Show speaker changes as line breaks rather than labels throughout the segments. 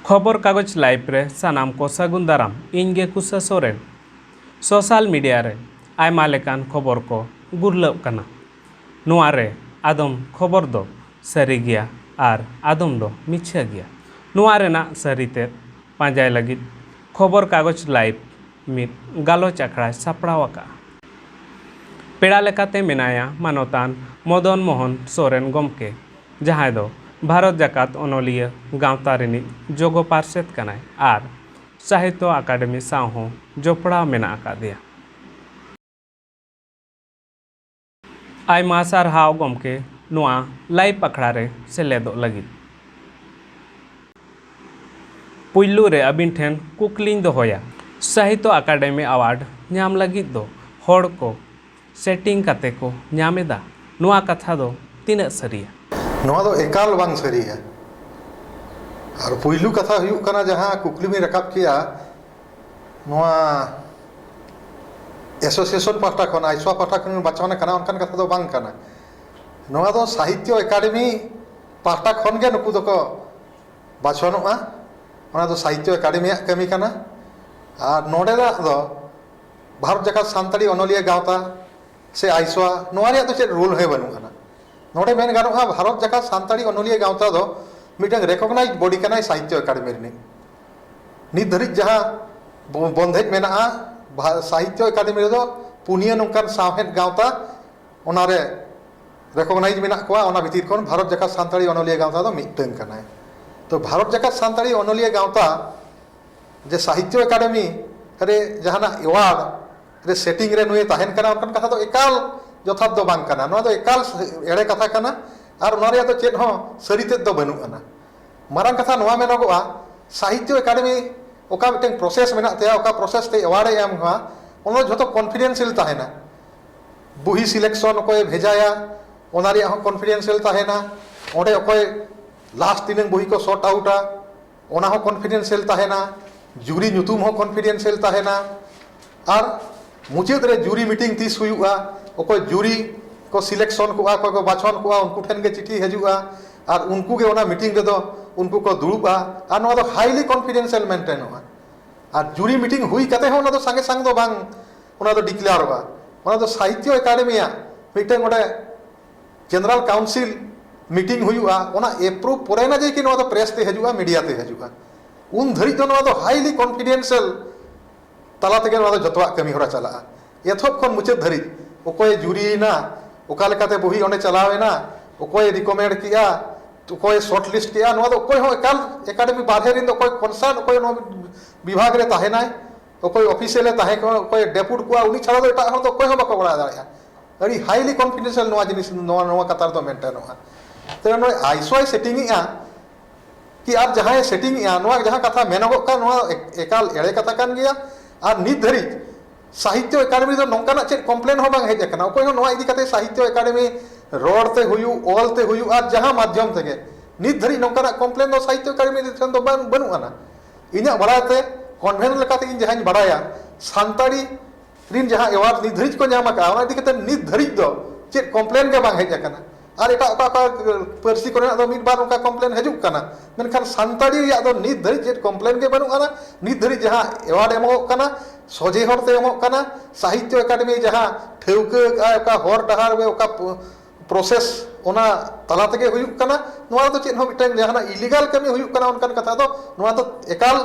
ᱠᱷᱚᱵᱚᱨ ᱠᱟᱜᱚᱡᱽ ᱞᱟᱭᱤᱵᱷ ᱨᱮ ᱥᱟᱱᱟᱢ ᱠᱚ ᱥᱟᱹᱜᱩᱱ ᱫᱟᱨᱟᱢ ᱤᱧ ᱜᱮ ᱠᱩᱥᱟ ᱥᱚᱨᱮᱱ ᱥᱳᱥᱟᱞ ᱢᱤᱰᱤᱭᱟ ᱨᱮ ᱟᱭᱢᱟ ᱞᱮᱠᱟᱱ ᱠᱷᱚᱵᱚᱨ ᱠᱚ ᱜᱩᱨᱞᱟᱹᱜ ᱠᱟᱱᱟ ᱱᱚᱶᱟ ᱨᱮ ᱟᱫᱚᱢ ᱠᱷᱚᱵᱚᱨ ᱫᱚ ᱥᱟᱹᱨᱤ ᱜᱮᱭᱟ ᱟᱨ ᱟᱫᱚᱢ ᱫᱚ ᱢᱤᱪᱷᱟᱹ ᱜᱮᱭᱟ᱾ ᱱᱚᱶᱟ ᱨᱮᱱᱟᱜ ᱥᱟᱹᱨᱤ ᱛᱮᱫ ᱯᱟᱸᱡᱟᱭ ᱞᱟᱹᱜᱤᱫ ᱠᱷᱚᱵᱚᱨ ᱠᱟᱜᱚᱡᱽ ᱞᱟᱭᱤᱵᱷ ᱢᱤᱫ ᱜᱟᱞᱚᱪ ᱟᱠᱷᱲᱟᱭ ᱥᱟᱯᱲᱟᱣ ᱟᱠᱟᱫᱼᱟ᱾ ᱯᱮᱲᱟ ᱞᱮᱠᱟᱛᱮ ᱢᱮᱱᱟᱭᱟ ᱢᱟᱱᱚᱛᱟᱱ ᱢᱚᱫᱚᱱ ᱢᱚᱦᱚᱱ ᱥᱚᱨᱮᱱ ᱜᱚᱢᱠᱮ, ᱡᱟᱦᱟᱸᱭ ᱫᱚ ᱵᱷᱟᱨᱚᱛ ᱡᱟᱠᱟᱛ ᱚᱱᱚᱞᱤᱭᱟᱹ ᱜᱟᱶᱛᱟ ᱨᱤᱱᱤᱡ ᱡᱚᱜᱚ ᱯᱟᱨᱥᱮᱛ ᱠᱟᱱᱟᱭ ᱟᱨ ᱥᱟᱦᱤᱛᱭᱚ ᱟᱠᱟᱰᱮᱢᱤ ᱥᱟᱶ ᱦᱚᱸ ᱡᱚᱯᱚᱲᱟᱣ ᱢᱮᱱᱟᱜ ᱟᱠᱟᱫᱮᱭᱟ᱾ ᱟᱭᱢᱟ ᱥᱟᱨᱦᱟᱣ ᱜᱚᱢᱠᱮ ᱱᱚᱣᱟ ᱞᱟᱭᱤᱵᱷ ᱟᱠᱷᱲᱟ ᱨᱮ ᱥᱮᱞᱮᱫᱚᱜ ᱞᱟᱹᱜᱤᱫ᱾ ᱯᱩᱭᱞᱩ ᱨᱮ ᱟᱹᱵᱤᱱ ᱴᱷᱮᱱ ᱠᱩᱠᱞᱤᱧ ᱫᱚᱦᱚᱭᱟ, ᱥᱟᱦᱤᱛᱭᱚ ᱟᱠᱟᱰᱮᱢᱤ ᱟᱣᱟᱨᱰ ᱧᱟᱢ ᱞᱟᱹᱜᱤᱫ ᱫᱚ ᱦᱚᱲ ᱠᱚ ᱥᱮᱴᱤᱝ ᱠᱟᱛᱮ ᱠᱚ ᱧᱟᱢ ᱮᱫᱟ, ᱱᱚᱣᱟ ᱠᱟᱛᱷᱟ ᱫᱚ ᱛᱤᱱᱟᱹᱜ ᱥᱟᱹᱨᱤᱭᱟ? ᱱᱚᱣᱟ ᱫᱚ ᱮᱠᱟᱞ ᱵᱟᱝ ᱥᱟᱹᱨᱤᱭᱟ᱾ ᱟᱨ ᱯᱩᱭᱞᱩ ᱠᱟᱛᱷᱟ ᱦᱩᱭᱩᱜ ᱠᱟᱱᱟ ᱡᱟᱦᱟᱸ ᱠᱩᱠᱞᱤ ᱵᱤᱱ ᱨᱟᱠᱟᱵ ᱠᱮᱜᱼᱟ, ᱱᱚᱣᱟ ᱮᱥᱳᱥᱤᱭᱮᱥᱚᱱ ᱯᱟᱦᱴᱟ ᱠᱷᱚᱱ ᱟᱭᱥᱳᱣᱟ ᱯᱟᱦᱴᱟ ᱠᱷᱚᱱ ᱵᱚᱱ ᱵᱟᱪᱷᱚᱱ ᱟᱠᱟᱱᱟ ᱚᱱᱠᱟᱱ ᱠᱟᱛᱷᱟ ᱫᱚ ᱵᱟᱝ ᱠᱟᱱᱟ ᱱᱚᱣᱟ ᱫᱚ ᱥᱟᱦᱤᱛᱛᱚ ᱮᱠᱟᱰᱮᱢᱤ ᱯᱟᱦᱴᱟ ᱠᱷᱚᱱ ᱜᱮ ᱱᱩᱠᱩ ᱫᱚᱠᱚ ᱵᱟᱪᱷᱚᱱᱚᱜᱼᱟ ᱚᱱᱟ ᱫᱚ ᱥᱟᱦᱤᱛᱛᱚ ᱮᱠᱟᱰᱮᱢᱤᱭᱟᱜ ᱠᱟᱹᱢᱤ ᱠᱟᱱᱟ ᱟᱨ ᱱᱚᱰᱮᱱᱟᱜ ᱫᱚ ᱵᱷᱟᱨᱚᱛ ᱡᱟᱠᱟᱛ ᱥᱟᱱᱛᱟᱲᱤ ᱚᱱᱚᱞᱤᱭᱟᱹ ᱜᱟᱶᱛᱟ ᱥᱮ ᱟᱭᱥᱳᱣᱟ ᱱᱚᱣᱟ ᱨᱮᱭᱟᱜ ᱫᱚ ᱪᱮᱫ ᱨᱳᱞ ᱦᱚᱸ ᱵᱟᱹᱱᱩᱜ ᱟᱱᱟ ᱱᱚᱰᱮ ᱢᱮᱱ ᱜᱟᱱᱚᱜᱼᱟ ᱵᱷᱟᱨᱚᱛ ᱡᱟᱠᱟᱛ ᱥᱟᱱᱛᱟᱲᱤ ᱚᱱᱚᱞᱤᱭᱟᱹ ᱜᱟᱶᱛᱟ ᱫᱚ ᱢᱤᱫᱴᱟᱝ ᱨᱮᱠᱳᱜᱽᱱᱟᱭᱤᱡᱽ ᱵᱳᱰᱤ ᱠᱟᱱᱟᱭ ᱥᱟᱦᱤᱛᱛᱚ ᱮᱠᱟᱰᱮᱢᱤ ᱨᱤᱱᱤᱡ ᱱᱤᱛ ᱫᱷᱟᱹᱨᱤᱡ ᱡᱟᱦᱟᱸ ᱵᱚᱱᱫᱷᱮᱡᱽ ᱢᱮᱱᱟᱜᱼᱟ ᱥᱟᱦᱤᱛᱛᱚ ᱟᱠᱟᱫᱮᱢᱤ ᱨᱮᱫᱚ ᱯᱩᱱᱭᱟᱹ ᱱᱚᱝᱠᱟᱱ ᱥᱟᱶᱦᱮᱫ ᱜᱟᱶᱛᱟ ᱚᱱᱟᱨᱮ ᱨᱮᱠᱳᱜᱽᱱᱟᱭᱤᱡᱽ ᱢᱮᱱᱟᱜ ᱠᱚᱣᱟ ᱚᱱᱟ ᱵᱷᱤᱛᱤᱨ ᱠᱷᱚᱱ ᱵᱷᱟᱨᱚᱛ ᱡᱟᱠᱟᱛ ᱥᱟᱱᱛᱟᱲᱤ ᱚᱱᱚᱞᱤᱭᱟᱹ ᱜᱟᱶᱛᱟ ᱫᱚ ᱢᱤᱫᱴᱟᱹᱝ ᱠᱟᱱᱟ ᱛᱚ ᱵᱷᱟᱨᱚᱛ ᱡᱟᱠᱟᱛ ᱥᱟᱱᱛᱟᱲᱤ ᱚᱱᱚᱞᱤᱭᱟᱹ ᱜᱟᱶᱛᱟ ᱡᱮ ᱥᱟᱦᱤᱛᱛᱚ ᱟᱠᱟᱫᱮᱢᱤ ᱨᱮ ᱡᱟᱦᱟᱱᱟᱜ ᱮᱣᱟᱨᱰ ᱨᱮ ᱥᱮᱴᱤᱝ ᱨᱮ ᱱᱩᱭᱮ ᱛᱟᱦᱮᱱ ᱠᱟᱱᱟ ᱚᱱᱠᱟᱱ ᱠᱟᱛᱷᱟ ᱫᱚ ᱮᱠᱟᱞ ᱡᱚᱛᱷᱟᱛ ᱫᱚ ᱵᱟᱝ ᱠᱟᱱᱟ ᱱᱚᱣᱟ ᱫᱚ ᱮᱠᱟᱞ ᱮᱲᱮ ᱠᱟᱛᱷᱟ ᱠᱟᱱᱟ ᱟᱨ ᱱᱚᱣᱟ ᱨᱮᱭᱟᱜ ᱫᱚ ᱪᱮᱫ ᱦᱚᱸ ᱥᱟᱹᱨᱤ ᱛᱮᱫ ᱫᱚ ᱵᱟᱹᱱᱩᱜ ᱟᱱᱟ ᱢᱟᱨᱟᱝ ᱠᱟᱛᱷᱟ ᱱᱚᱣᱟ ᱢᱮᱱᱚᱜᱚᱜᱼᱟ ᱥᱟᱦᱤᱛᱭᱚ ᱮᱠᱟᱰᱮᱢᱤ ᱚᱠᱟ ᱢᱤᱫᱴᱟᱝ ᱯᱨᱚᱥᱮᱥ ᱢᱮᱱᱟᱜ ᱛᱟᱭᱟ ᱚᱠᱟ ᱯᱨᱚᱥᱮᱥ ᱛᱮ ᱮᱣᱟᱨᱰ ᱮ ᱮᱢᱟ ᱚᱱᱟ ᱫᱚ ᱡᱷᱚᱛᱚ ᱠᱚᱱᱯᱷᱤᱰᱮᱱᱥᱤᱭᱟᱞ ᱛᱟᱦᱮᱱᱟ ᱵᱩᱦᱤ ᱥᱤᱞᱮᱠᱥᱚᱱ ᱚᱠᱚᱭᱮ ᱵᱷᱮᱡᱟᱭᱟ ᱚᱱᱟ ᱨᱮᱭᱟᱜ ᱦᱚᱸ ᱠᱚᱱᱯᱷᱤᱰᱮᱱᱥᱤᱭᱟᱞ ᱛᱟᱦᱮᱱᱟ ᱚᱸᱰᱮ ᱚᱠᱚᱭ ᱞᱟᱥᱴ ᱛᱤᱱᱟᱹᱜ ᱵᱩᱦᱤ ᱠᱚ ᱥᱚᱨᱴ ᱟᱣᱩᱴᱟ ᱚᱱᱟ ᱦᱚᱸ ᱠᱚᱱᱯᱷᱤᱰᱮᱱᱥᱤᱭᱟᱞ ᱛᱟᱦᱮᱱᱟ ᱡᱩᱨᱤ ᱧᱩᱛᱩᱢ ᱦᱚᱸ ᱠᱚᱱᱯᱷᱤᱰᱮᱱᱥᱤᱭᱟᱞ ᱛᱟᱦᱮᱱᱟ ᱟᱨ ᱢᱩᱪᱟᱹᱫ ᱨᱮ ᱡᱩᱨᱤ ᱢᱤᱴᱤᱝ ᱛᱤᱥ ᱦᱩᱭᱩᱜᱼᱟ ᱚᱠᱚᱭ ᱡᱩᱨᱤ ᱠᱚ ᱥᱤᱞᱮᱠᱥᱚᱱ ᱠᱚᱜᱼᱟ ᱚᱠᱚᱭ ᱠᱚ ᱵᱟᱪᱷᱚᱱ ᱠᱚᱜᱼᱟ ᱩᱱᱠᱩ ᱴᱷᱮᱱ ᱜᱮ ᱪᱤᱴᱷᱤ ᱦᱤᱡᱩᱜᱼᱟ ᱟᱨ ᱩᱱᱠᱩ ᱜᱮ ᱚᱱᱟ ᱢᱤᱴᱤᱝ ᱨᱮᱫᱚ ᱩᱱᱠᱩ ᱠᱚ ᱫᱩᱲᱩᱵᱼᱟ ᱟᱨ ᱱᱚᱣᱟ ᱫᱚ ᱦᱟᱭᱞᱤ ᱠᱚᱱᱯᱷᱤᱰᱮᱱᱥᱤᱭᱟᱞ ᱢᱮᱱᱴᱮᱱᱚᱜᱼᱟ ᱟᱨ ᱡᱩᱨᱤ ᱢᱤᱴᱤᱝ ᱦᱩᱭ ᱠᱟᱛᱮᱫ ᱦᱚᱸ ᱚᱱᱟ ᱫᱚ ᱥᱟᱝᱜᱮ ᱥᱟᱝ ᱫᱚ ᱵᱟᱝ ᱚᱱᱟ ᱫᱚ ᱰᱤᱠᱞᱮᱭᱟᱨᱚᱜᱼᱟ ᱚᱱᱟ ᱫᱚ ᱥᱟᱦᱤᱛᱛᱚ ᱮᱠᱟᱰᱮᱢᱤᱭᱟᱜ ᱢᱤᱫᱴᱮᱱ ᱚᱸᱰᱮ ᱡᱮᱱᱟᱨᱮᱞ ᱠᱟᱣᱩᱱᱥᱤᱞ ᱢᱤᱴᱤᱝ ᱦᱩᱭᱩᱜᱼᱟ ᱚᱱᱟ ᱮᱯᱨᱩᱵᱷ ᱯᱚᱨᱮ ᱟᱱᱟᱜ ᱡᱮᱠᱤ ᱱᱚᱣᱟ ᱫᱚ ᱯᱨᱮᱥ ᱛᱮ ᱦᱤᱡᱩᱜᱼᱟ ᱢᱤᱰᱤᱭᱟ ᱛᱮ ᱦᱤᱡᱩᱜᱼᱟ ᱩᱱ ᱫᱷᱟᱹᱨᱤᱡ ᱫᱚ ᱱᱚᱣᱟ ᱫᱚ ᱦᱟᱭᱞᱤ ᱠᱚᱱᱯᱷᱤᱰᱮᱱᱥᱤᱭᱟᱞ ᱛᱟᱞᱟ ᱛᱮᱜᱮ ᱱᱚᱣᱟ ᱫᱚ ᱡᱚᱛᱚᱣᱟᱜ ᱠᱟᱹᱢᱤ ᱦᱚᱨᱟ ᱪᱟᱞᱟᱜᱼᱟ ᱮᱛᱚᱦᱚᱵ ᱠᱷᱚᱱ ᱢᱩᱪᱟᱹᱫ ᱫᱷᱟᱹᱨᱤᱡ ᱚᱠᱚᱭᱮ ᱡᱩᱨᱤ ᱮᱱᱟ ᱚᱠᱟ ᱞᱮᱠᱟᱛᱮ ᱵᱚᱦᱤ ᱚᱸᱰᱮ ᱪᱟᱞᱟᱣ ᱮᱱᱟ ᱚᱠᱚᱭᱮ ᱨᱤᱠᱚᱢᱮᱱᱰ ᱠᱮᱫᱼᱟ ᱚᱠᱚᱭᱮ ᱥᱚᱨᱴ ᱞᱤᱥᱴ ᱠᱮᱫᱼᱟ ᱱᱚᱣᱟ ᱫᱚ ᱚᱠᱚᱭ ᱦᱚᱸ ᱮᱠᱟᱞ ᱮᱠᱟᱰᱮᱢᱤ ᱵᱟᱨᱦᱮ ᱨᱮᱱ ᱫᱚ ᱚᱠᱚᱭ ᱠᱚᱱᱥᱟᱨᱱ ᱚᱠᱚᱭ ᱱᱚᱣᱟ ᱵᱤᱵᱷᱟᱜᱽ ᱨᱮ ᱛᱟᱦᱮᱱᱟᱭ ᱚᱠᱚᱭ ᱚᱯᱷᱤᱥᱤᱭᱟᱞ ᱮ ᱛᱟᱦᱮᱸ ᱠᱚᱜ ᱚᱠᱚᱭ ᱰᱮᱯᱩᱴ ᱠᱚᱜᱼᱟ ᱩᱱᱤ ᱪᱷᱟᱲᱟ ᱫᱚ ᱮᱴᱟᱜ ᱦᱚᱲ ᱫᱚ ᱚᱠᱚᱭ ᱦᱚᱸ ᱵᱟᱠᱚ ᱵᱟᱲᱟᱭ ᱫᱟᱲᱮᱭᱟᱜᱼᱟ ᱟᱹᱰᱤ ᱦᱟᱭᱞᱤ ᱠᱚᱱᱯᱷᱤᱰᱮᱱᱥᱤᱭᱟᱞ ᱱᱚᱣᱟ ᱡᱤᱱᱤᱥ ᱱᱚᱣᱟ ᱱᱚᱣᱟ ᱠᱟᱛᱷᱟ ᱨᱮᱫᱚ ᱢᱮᱱᱴᱮᱱᱚᱜᱼᱟ ᱛᱚᱵᱮ ᱱᱚᱜᱼᱚᱭ ᱟᱭᱤᱥᱳᱭ ᱥᱮᱴᱤᱝ ᱮᱫᱼᱟ ᱠᱤ ᱟᱨ ᱡᱟᱦᱟᱸᱭ ᱥᱮᱴᱤᱝ ᱮᱜᱼᱟ ᱱᱚᱣᱟ ᱡᱟᱦᱟᱸ ᱠᱟᱛᱷᱟ ᱢᱮᱱᱚᱜᱚᱜ ᱠᱟᱱ ᱱᱚᱣᱟ ᱮᱠᱟᱞ ᱮᱲᱮ ᱠᱟᱛᱷᱟ ᱠᱟᱱ ᱜᱮᱭᱟ ᱟᱨ ᱱᱤᱛ ᱫᱷᱟᱹᱨᱤᱡ ᱥᱟᱦᱤᱛᱛᱚ ᱮᱠᱟᱰᱮᱢᱤ ᱨᱮ ᱱᱚᱝᱠᱟᱱᱟᱜ ᱪᱮᱫ ᱠᱚᱢᱯᱞᱮᱱ ᱦᱚᱸ ᱵᱟᱝ ᱦᱮᱡ ᱟᱠᱟᱱᱟ ᱚᱠᱚᱭ ᱦᱚᱸ ᱱᱚᱣᱟ ᱤᱫᱤ ᱠᱟᱛᱮ ᱥᱟᱦᱤᱛᱛᱚ ᱮᱠᱟᱰᱮᱢᱤ ᱨᱚᱲ ᱛᱮ ᱦᱩᱭᱩᱜ ᱚᱞ ᱛᱮ ᱦᱩᱭᱩᱜ ᱟᱨ ᱡᱟᱦᱟᱸ ᱢᱟᱫᱽᱫᱷᱚᱢ ᱛᱮᱜᱮ ᱱᱤᱛ ᱫᱷᱟᱹᱨᱤᱡ ᱱᱚᱝᱠᱟᱱᱟᱜ ᱠᱚᱢᱯᱞᱮᱱ ᱫᱚ ᱥᱟᱦᱤᱛᱛᱚ ᱮᱠᱟᱰᱮᱢᱤ ᱴᱷᱮᱱ ᱫᱚ ᱵᱟᱝ ᱵᱟᱹᱱᱩᱜ ᱟᱱᱟ ᱤᱧᱟᱹᱜ ᱵᱟᱲᱟᱭ ᱛᱮ ᱠᱚᱱᱵᱷᱮᱱ ᱞᱮᱠᱟᱛᱮ ᱤᱧ ᱡᱟᱦᱟᱸᱧ ᱵᱟᱲᱟᱭᱟ ᱥᱟᱱᱛᱟᱲᱤ ᱨᱤᱱ ᱡᱟᱦᱟᱸ ᱮᱣᱟᱨᱰ ᱱᱤᱛ ᱫᱷᱟᱹᱨᱤᱡ ᱠᱚ ᱧᱟᱢ ᱟᱠᱟᱫᱼᱟ ᱚᱱᱟ ᱤᱫᱤ ᱠᱟᱛᱮ ᱱᱤᱛ ᱫᱷᱟᱹᱨᱤᱡ ᱫᱚ ᱪᱮᱫ ᱠᱚᱢᱯᱞᱮᱱ ᱜᱮ ᱵᱟᱝ ᱦᱮᱡ ᱟᱠᱟᱱᱟ ᱟᱨ ᱮᱴᱟᱜ ᱚᱠᱟ ᱚᱠᱟ ᱯᱟᱹᱨᱥᱤ ᱠᱚᱨᱮᱱᱟᱜ ᱫᱚ ᱢᱤᱫ ᱵᱟᱨ ᱚᱱᱠᱟ ᱠᱚᱢᱯᱞᱮᱱ ᱦᱤᱡᱩᱜ ᱠᱟᱱᱟ ᱢᱮᱱᱠᱷᱟᱱ ᱥᱟᱱᱛᱟᱲᱤ ᱨᱮᱭᱟᱜ ᱫᱚ ᱱᱤᱛ ᱫᱷᱟᱹᱨᱤᱡ ᱪᱮᱫ ᱠᱚᱢᱯᱞᱮᱱ ᱜᱮ ᱵᱟᱹᱱᱩᱜ ᱟᱱᱟ ᱱᱤᱛ ᱫᱷᱟᱹᱨᱤᱡ ᱡᱟᱦᱟᱸ ᱮᱣᱟᱨᱰ ᱮᱢᱚᱜᱚᱜ ᱠᱟᱱᱟ ᱥᱚᱡᱷᱮ ᱦᱚᱨᱛᱮ ᱮᱢᱚᱜ ᱠᱟᱱᱟ ᱥᱟᱦᱤᱛᱛᱚ ᱮᱠᱟᱰᱮᱢᱤ ᱡᱟᱦᱟᱸ ᱴᱷᱟᱹᱣᱠᱟᱹ ᱟᱠᱟᱫᱼᱟᱭ ᱚᱠᱟ ᱦᱚᱨ ᱰᱟᱦᱟᱨ ᱨᱮ ᱚᱠᱟ ᱯᱨᱚᱥᱮᱥ ᱚᱱᱟ ᱛᱟᱞᱟ ᱛᱮᱜᱮ ᱦᱩᱭᱩᱜ ᱠᱟᱱᱟ ᱱᱚᱣᱟ ᱨᱮᱫᱚ ᱪᱮᱫ ᱦᱚᱸ ᱢᱤᱫᱴᱟᱝ ᱡᱟᱦᱟᱱᱟᱜ ᱤᱞᱤᱜᱟᱞ ᱠᱟᱹᱢᱤ ᱦᱩᱭᱩᱜ ᱠᱟᱱᱟ ᱚᱱᱠᱟᱱ ᱠᱟᱛᱷᱟ ᱫᱚ ᱱᱚᱣᱟ ᱫᱚ ᱮᱠᱟᱞ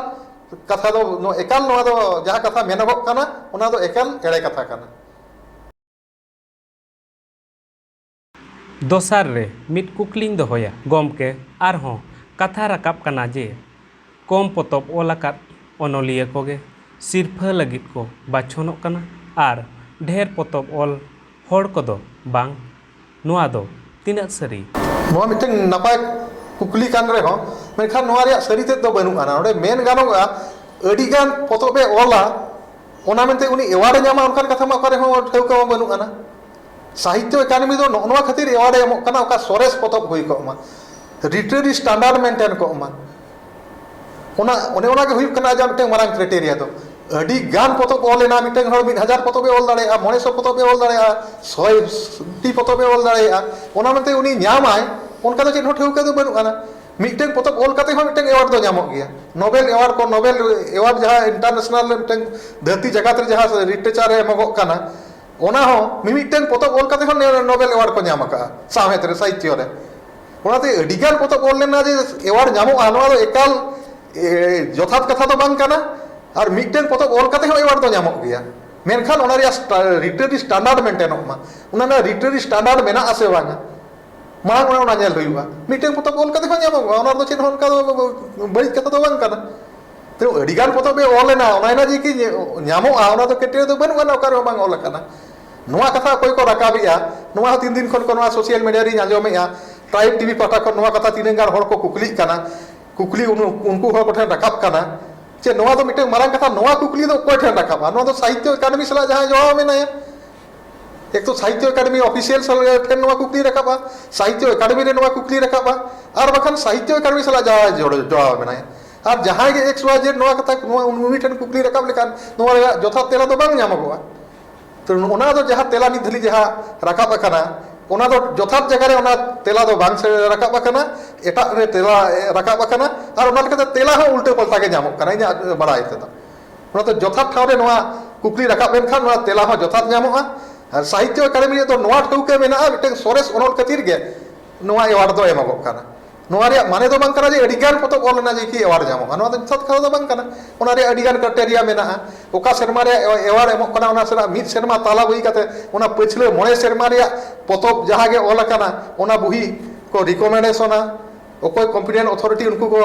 ᱠᱟᱛᱷᱟ ᱫᱚ ᱮᱠᱟᱞ ᱱᱚᱣᱟ ᱫᱚ ᱡᱟᱦᱟᱸ ᱠᱟᱛᱷᱟ ᱢᱮᱱᱚᱜᱚᱜ ᱠᱟᱱᱟ ᱚᱱᱟ ᱫᱚ ᱮᱠᱟᱞ ᱮᱲᱮ ᱠᱟᱛᱷᱟ ᱠᱟᱱᱟ᱾ ᱫᱚᱥᱟᱨ ᱨᱮ ᱢᱤᱫ ᱠᱩᱠᱞᱤᱧ ᱫᱚᱦᱚᱭᱟ ᱜᱚᱢᱠᱮ ᱟᱨᱦᱚᱸ ᱠᱟᱛᱷᱟ ᱨᱟᱠᱟᱵ ᱠᱟᱱᱟ ᱡᱮ ᱠᱚᱢ ᱯᱚᱛᱚᱵ ᱚᱞ ᱟᱠᱟᱫ ᱚᱱᱚᱞᱤᱭᱟᱹ ᱠᱚᱜᱮ ᱥᱤᱨᱯᱷᱟᱹ ᱞᱟᱹᱜᱤᱫ ᱠᱚ ᱵᱟᱪᱷᱚᱱᱚᱜ ᱠᱟᱱᱟ ᱟᱨ ᱰᱷᱮᱨ ᱯᱚᱛᱚᱵ ᱚᱞ ᱦᱚᱲ ᱠᱚᱫᱚ ᱵᱟᱝ᱾ ᱱᱚᱣᱟ ᱫᱚ ᱛᱤᱱᱟᱹᱜ ᱥᱟᱹᱨᱤ? ᱱᱚᱣᱟ ᱢᱤᱫᱴᱟᱹᱝ ᱱᱟᱯᱟᱭ ᱠᱩᱠᱞᱤ ᱠᱟᱱ ᱨᱮᱦᱚᱸ ᱢᱮᱱᱠᱷᱟᱱ ᱱᱚᱣᱟ ᱨᱮᱭᱟᱜ ᱥᱟᱹᱨᱤ ᱛᱮᱫ ᱫᱚ ᱵᱟᱹᱱᱩᱜ ᱟᱱᱟ᱾ ᱱᱚᱸᱰᱮ ᱢᱮᱱ ᱜᱟᱱᱚᱜᱼᱟ ᱟᱹᱰᱤ ᱜᱟᱱ ᱯᱚᱛᱚᱵ ᱮ ᱚᱞᱟ ᱚᱱᱟ ᱢᱮᱱᱛᱮ ᱩᱱᱤ ᱮᱣᱟᱨᱰ ᱮ ᱧᱟᱢᱟ ᱚᱱᱠᱟᱱ ᱠᱟᱛᱷᱟ ᱢᱟ ᱚᱠᱟ ᱨᱮ ᱦᱚᱸ ᱴᱷᱟᱹᱣᱠᱟᱹ ᱢᱟ ᱵᱟᱹᱱᱩᱜ ᱟᱱᱟ᱾ ᱥᱟᱦᱤᱛᱭᱚ ᱮᱠᱟᱰᱮᱢᱤ ᱫᱚ ᱱᱚᱜᱼᱚ ᱱᱚᱣᱟ ᱠᱷᱟᱹᱛᱤᱨ ᱮᱣᱟᱨᱰ ᱮ ᱮᱢᱚᱜ ᱠᱟᱱᱟ ᱚᱠᱟ ᱥᱚᱨᱮᱥ ᱯᱚᱛᱚᱵ ᱦᱩᱭ ᱠᱚᱜ ᱢᱟ, ᱞᱤᱴᱨᱮᱨᱤ ᱥᱴᱟᱱᱰᱟᱨᱰ ᱢᱮᱱᱴᱮᱱ ᱠᱚᱜ ᱢᱟ᱾ ᱚᱱᱟ ᱚᱱᱮ ᱚᱱᱟ ᱜᱮ ᱦᱩᱭᱩᱜ ᱠᱟᱱᱟ ᱟᱡᱟᱜ ᱢᱤᱫᱴᱮᱱ ᱢᱟᱨᱟᱝ ᱠᱨᱟᱭᱴᱮᱨᱤᱭᱟ ᱫᱚ ᱟᱹᱰᱤ ᱜᱟᱱ ᱯᱚᱛᱚᱵ ᱚᱞ ᱞᱮᱱᱟ ᱢᱤᱫᱴᱮᱱ ᱦᱚᱲ ᱢᱤᱫ ᱦᱟᱡᱟᱨ ᱯᱚᱛᱚᱵ ᱮ ᱚᱞ ᱫᱟᱲᱮᱭᱟᱜᱼᱟ ᱢᱚᱬᱮ ᱥᱚ ᱯᱚᱛᱚᱵ ᱮ ᱚᱞ ᱫᱟᱲᱮᱭᱟᱜᱼᱟ ᱥᱚᱭ ᱴᱤ ᱯᱚᱛᱚᱵ ᱮ ᱚᱞ ᱫᱟᱲᱮᱭᱟᱜᱼᱟ ᱚᱱᱟ ᱢᱮᱱᱛᱮ ᱩᱱᱤ ᱧᱟᱢᱟᱭ ᱚᱱᱠᱟ ᱫᱚ ᱪᱮᱫ ᱦᱚᱸ ᱴᱷᱟᱹᱣᱠᱟᱹ ᱫᱚ ᱵᱟᱹᱱᱩᱜ ᱟᱱᱟ ᱢᱤᱫᱴᱮᱱ ᱯᱚᱛᱚᱵ ᱚᱞ ᱠᱟᱛᱮ ᱦᱚᱸ ᱢᱤᱫᱴᱮᱱ ᱮᱣᱟᱨᱰ ᱫᱚ ᱧᱟᱢᱚᱜ ᱜᱮᱭᱟ ᱱᱳᱵᱮᱞ ᱮᱣᱟᱨᱰ ᱠᱚ ᱱᱳᱵᱮᱞ ᱮᱣᱟᱨᱰ ᱡᱟᱦᱟᱸ ᱤᱱᱴᱟᱨᱱᱮᱥᱱᱟᱞ ᱨᱮ ᱢᱤᱫᱴᱮᱱ ᱫᱷᱟᱹᱨᱛᱤ ᱡᱟᱠᱟᱛ ᱨᱮ ᱡᱟᱦᱟᱸ ᱞᱤᱴᱨᱮᱪᱟᱨ ᱨᱮ ᱮᱢᱚᱜᱚᱜ ᱠᱟᱱᱟ ᱚᱱᱟ ᱦᱚᱸ ᱢᱤᱢᱤᱫᱴᱮᱱ ᱯᱚᱛᱚᱵ ᱚᱞ ᱠᱟᱛᱮ ᱦᱚᱸ ᱱᱳᱵᱮᱞ ᱮᱣᱟᱨᱰ ᱠᱚ ᱧᱟᱢ ᱠᱟᱜᱼᱟ ᱥᱟᱶᱦᱮᱫ ᱨᱮ ᱥᱟᱦᱤᱛᱛᱚ ᱨᱮ ᱚᱱᱟᱛᱮ ᱟᱹᱰᱤᱜᱟᱱ ᱯᱚᱛᱚᱵ ᱚᱞ ᱞᱮᱱᱟ ᱡᱮ ᱮᱣᱟᱨᱰ ᱧᱟᱢᱚᱜᱼᱟ ᱱᱚᱣᱟ ᱫᱚ ᱮᱠᱟᱞ ᱡᱚᱛᱷᱟᱛ ᱠᱟᱛᱷᱟ ᱫᱚ ᱵᱟᱝ ᱠᱟᱱᱟ ᱟᱨ ᱢᱤᱫᱴᱮᱱ ᱯᱚᱛᱚᱵ ᱚᱞ ᱠᱟᱛᱮ ᱦᱚᱸ ᱮᱣᱟᱨᱰ ᱫᱚ ᱧᱟᱢᱚᱜ ᱜᱮᱭᱟ ᱢᱮᱱᱠᱷᱟᱱ ᱚᱱᱟ ᱨᱮᱭᱟᱜ ᱞᱤᱴᱟᱨᱤ ᱥᱴᱮᱱᱰᱟᱨᱰ ᱢᱮᱱᱴᱮᱱᱚᱜ ᱢᱟ ᱚᱱᱟ ᱨᱮᱱᱟᱜ ᱞᱤᱴᱟᱨᱤ ᱥᱴᱮᱱᱰᱟᱨᱰ ᱢᱮᱱᱟᱜ ᱟᱥᱮ ᱵᱟᱝᱟ ᱢᱟᱲᱟᱝ ᱨᱮ ᱚᱱᱟ ᱧᱮᱞ ᱦᱩᱭᱩᱜᱼᱟ ᱢᱤᱫᱴᱮᱱ ᱯᱚᱛᱚᱵ ᱚᱞ ᱠᱟᱛᱮ ᱦᱚᱸ ᱧᱟᱢᱚᱜᱼᱟ ᱚᱱᱟ ᱨᱮᱫᱚ ᱪᱮᱫ ᱦᱚᱸ ᱚᱱᱠᱟ ᱫᱚ ᱵᱟᱹᱲᱤᱡ ᱠᱟᱛᱷᱟ ᱫᱚ ᱵᱟᱝ ᱠᱟᱱᱟ ᱛᱚ ᱟᱹᱰᱤᱜᱟᱱ ᱯᱚᱛᱚᱵ ᱜᱮ ᱚᱞ ᱞᱮᱱᱟ ᱚᱱᱟ ᱨᱮᱱᱟᱜ ᱡᱮ ᱠᱤ ᱧᱟᱢᱚᱜᱼᱟ ᱚᱱᱟ ᱫᱚ ᱠᱟᱹᱴᱤᱡ ᱫᱚ ᱵᱟᱹᱱᱩᱜ ᱟᱱᱟ ᱚᱠᱟ ᱨᱮᱦᱚᱸ ᱵᱟᱝ ᱚᱞ ᱟᱠᱟᱱᱟ ᱱᱚᱣᱟ ᱠᱟᱛᱷᱟ ᱚᱠᱚᱭ ᱠᱚ ᱨᱟᱠᱟᱵ ᱮᱫᱼᱟ ᱱᱚᱣᱟ ᱦᱚᱸ ᱛᱤᱱ ᱫᱤᱱ ᱠᱷᱚᱱ ᱠᱚ ᱱᱚᱣᱟ ᱥᱳᱥᱟᱞ ᱢᱤᱰᱤᱭᱟ ᱨᱤᱧ ᱟᱸᱡᱚᱢ ᱮᱫᱼᱟ ᱴᱨᱟᱭᱤᱵᱽ ᱴᱤᱵᱷᱤ ᱯᱟᱦᱴᱟ ᱠᱷᱚᱱ ᱱᱚᱣᱟ ᱠᱟᱛᱷᱟ ᱛᱤᱱᱟᱹᱜ ᱜᱟᱱ ᱦᱚᱲ ᱠᱚ ᱠᱩᱠᱞᱤᱜ ᱠᱟᱱᱟ ᱠᱩᱠᱞᱤ ᱩᱱᱠᱩ ᱦᱚᱲ ᱠᱚᱴᱷᱮᱱ ᱨᱟᱠᱟᱵ ᱠᱟᱱᱟ ᱪᱮ ᱱᱚᱣᱟ ᱫᱚ ᱢᱤᱫᱴᱟᱝ ᱢᱟᱨᱟᱝ ᱠᱟᱛᱷᱟ ᱱᱚᱣᱟ ᱠᱩᱠᱞᱤ ᱫᱚ ᱚᱠᱚᱭ ᱴᱷᱮᱱ ᱨᱟᱠᱟᱵᱼᱟ ᱱᱚᱣᱟ ᱫᱚ ᱥᱟᱦᱤᱛᱛᱚ ᱮᱠᱟᱰᱮᱢᱤ ᱥᱟᱞᱟᱜ ᱡᱟᱦᱟᱸᱭ ᱡᱚᱲᱟᱣ ᱢᱮᱱᱟᱭᱟ ᱮᱠ ᱛᱚ ᱥᱟᱦᱤᱛᱛᱚ ᱮᱠᱟᱰᱮᱢᱤ ᱚᱯᱷᱤᱥᱤᱭᱟᱞ ᱴᱷᱮᱱ ᱱᱚᱣᱟ ᱠᱩᱠᱞᱤ ᱨᱟᱠᱟᱵᱼᱟ ᱥᱟᱦᱤᱛᱛᱚ ᱮᱠᱟᱰᱮᱢᱤ ᱨᱮ ᱱᱚᱣᱟ ᱠᱩᱠᱞᱤ ᱨᱟᱠᱟᱵᱼᱟ ᱟᱨ ᱵᱟᱠᱷᱟᱱ ᱥᱟᱦᱤᱛᱛᱚ ᱮᱠᱟᱰᱮᱢᱤ ᱥᱟᱞᱟᱜ ᱡᱟᱦᱟᱸᱭ ᱡᱚᱲᱟᱣ ᱢᱮᱱᱟᱭᱟ ᱟᱨ ᱡᱟᱦᱟᱸᱭ ᱜᱮ ᱮᱠᱥ ᱚᱣᱟᱭ ᱡᱮᱰ ᱱᱚᱣᱟ ᱠᱟᱛᱷᱟ ᱱᱚᱣᱟ ᱩᱱᱤ ᱴᱷᱮᱱ ᱠᱩᱠᱞᱤ ᱨᱟᱠᱟᱵ ᱞᱮᱠᱷᱟᱱ ᱱᱚᱣᱟ ᱨᱮᱭᱟᱜ ᱡᱚᱛᱷᱟᱛ ᱛᱮᱞᱟ ᱫᱚ ᱵᱟᱝ ᱧᱟᱢᱚᱜᱚᱜᱼᱟ ᱛᱚ ᱚᱱᱟ ᱫᱚ ᱡᱟᱦᱟᱸ ᱛᱮᱞᱟ ᱱᱤᱛ ᱫᱷᱟᱹᱵᱤᱡ ᱡᱟᱦᱟᱸ ᱨᱟᱠᱟᱵ ᱟᱠᱟᱱᱟ ᱚᱱᱟ ᱫᱚ ᱡᱚᱛᱷᱟᱛ ᱡᱟᱭᱜᱟ ᱨᱮ ᱚᱱᱟ ᱛᱮᱞᱟ ᱫᱚ ᱵᱟᱝ ᱨᱟᱠᱟᱵ ᱟᱠᱟᱱᱟ ᱮᱴᱟᱜ ᱨᱮ ᱛᱮᱞᱟ ᱨᱟᱠᱟᱵ ᱟᱠᱟᱱᱟ ᱟᱨ ᱚᱱᱟ ᱞᱮᱠᱟᱛᱮ ᱛᱮᱞᱟ ᱦᱚᱸ ᱩᱞᱴᱟᱹ ᱯᱟᱞᱴᱟ ᱜᱮ ᱧᱟᱢᱚᱜ ᱠᱟᱱᱟ ᱤᱧᱟᱹᱜ ᱵᱟᱲᱟᱭ ᱛᱮᱫᱚ ᱚᱱᱟᱛᱮ ᱡᱚᱛᱷᱟᱛ ᱴᱷᱟᱶ ᱨᱮ ᱱᱚᱣᱟ ᱠᱩᱠᱞᱤ ᱨᱟᱠᱟᱵ ᱞᱮᱱᱠᱷᱟᱱ ᱱᱚᱣᱟ ᱛᱮᱞᱟ ᱦᱚᱸ ᱡᱚᱛᱷᱟᱛ ᱧᱟᱢᱚᱜᱼᱟ ᱟᱨ ᱥᱟᱦᱤᱛᱛᱚ ᱟᱠᱟᱫᱮᱢᱤ ᱨᱮᱫᱚ ᱱᱚᱣᱟ ᱴᱷᱟᱹᱣᱠᱟᱹ ᱢᱮᱱᱟᱜᱼᱟ ᱢᱤᱫᱴᱟᱝ ᱥᱚᱨᱮᱥ ᱚᱱᱚᱞ ᱠᱷᱟᱹᱛᱤᱨ ᱜᱮ ᱱᱚᱣᱟ ᱮᱣᱟᱨᱰ ᱫᱚ ᱮᱢᱚᱜᱚᱜ ᱠᱟᱱᱟ ᱱᱚᱣᱟ ᱨᱮᱭᱟᱜ ᱢᱟᱱᱮ ᱫᱚ ᱵᱟᱝ ᱠᱟᱱᱟ ᱡᱮ ᱟᱹᱰᱤ ᱜᱟᱱ ᱯᱚᱛᱚᱵ ᱚᱞ ᱞᱮᱱᱟ ᱡᱮᱠᱤ ᱮᱣᱟᱨᱰ ᱧᱟᱢᱚᱜᱼᱟ ᱱᱚᱣᱟ ᱫᱚ ᱡᱚᱛᱷᱟᱛ ᱠᱟᱛᱷᱟ ᱫᱚ ᱵᱟᱝ ᱠᱟᱱᱟ ᱚᱱᱟ ᱨᱮᱭᱟᱜ ᱟᱹᱰᱤ ᱜᱟᱱ ᱠᱨᱟᱭᱴᱮᱨᱤᱭᱟ ᱢᱮᱱᱟᱜᱼᱟ ᱚᱠᱟ ᱥᱮᱨᱢᱟ ᱨᱮ ᱮᱣᱟᱨᱰ ᱮᱢᱚᱜ ᱠᱟᱱᱟ ᱚᱱᱟ ᱥᱮᱨᱢᱟ ᱢᱤᱫ ᱥᱮᱨᱢᱟ ᱛᱟᱞᱟ ᱦᱩᱭ ᱠᱟᱛᱮ ᱚᱱᱟ ᱯᱟᱹᱪᱷᱞᱟᱹ ᱢᱚᱬᱮ ᱥᱮᱨᱢᱟ ᱨᱮᱭᱟᱜ ᱯᱚᱛᱚᱵ ᱡᱟᱦᱟᱸ ᱜᱮ ᱚᱞ ᱟᱠᱟᱱᱟ ᱚᱱᱟ ᱵᱩᱦᱤ ᱠᱚ ᱨᱤᱠᱚᱢᱮᱱᱰᱮᱥᱚᱱᱟ ᱚᱠᱚᱭ ᱠᱚᱢᱯᱤᱴᱮᱱᱴ ᱚᱛᱷᱚᱨᱤᱴᱤ ᱩᱱᱠᱩ ᱠᱚ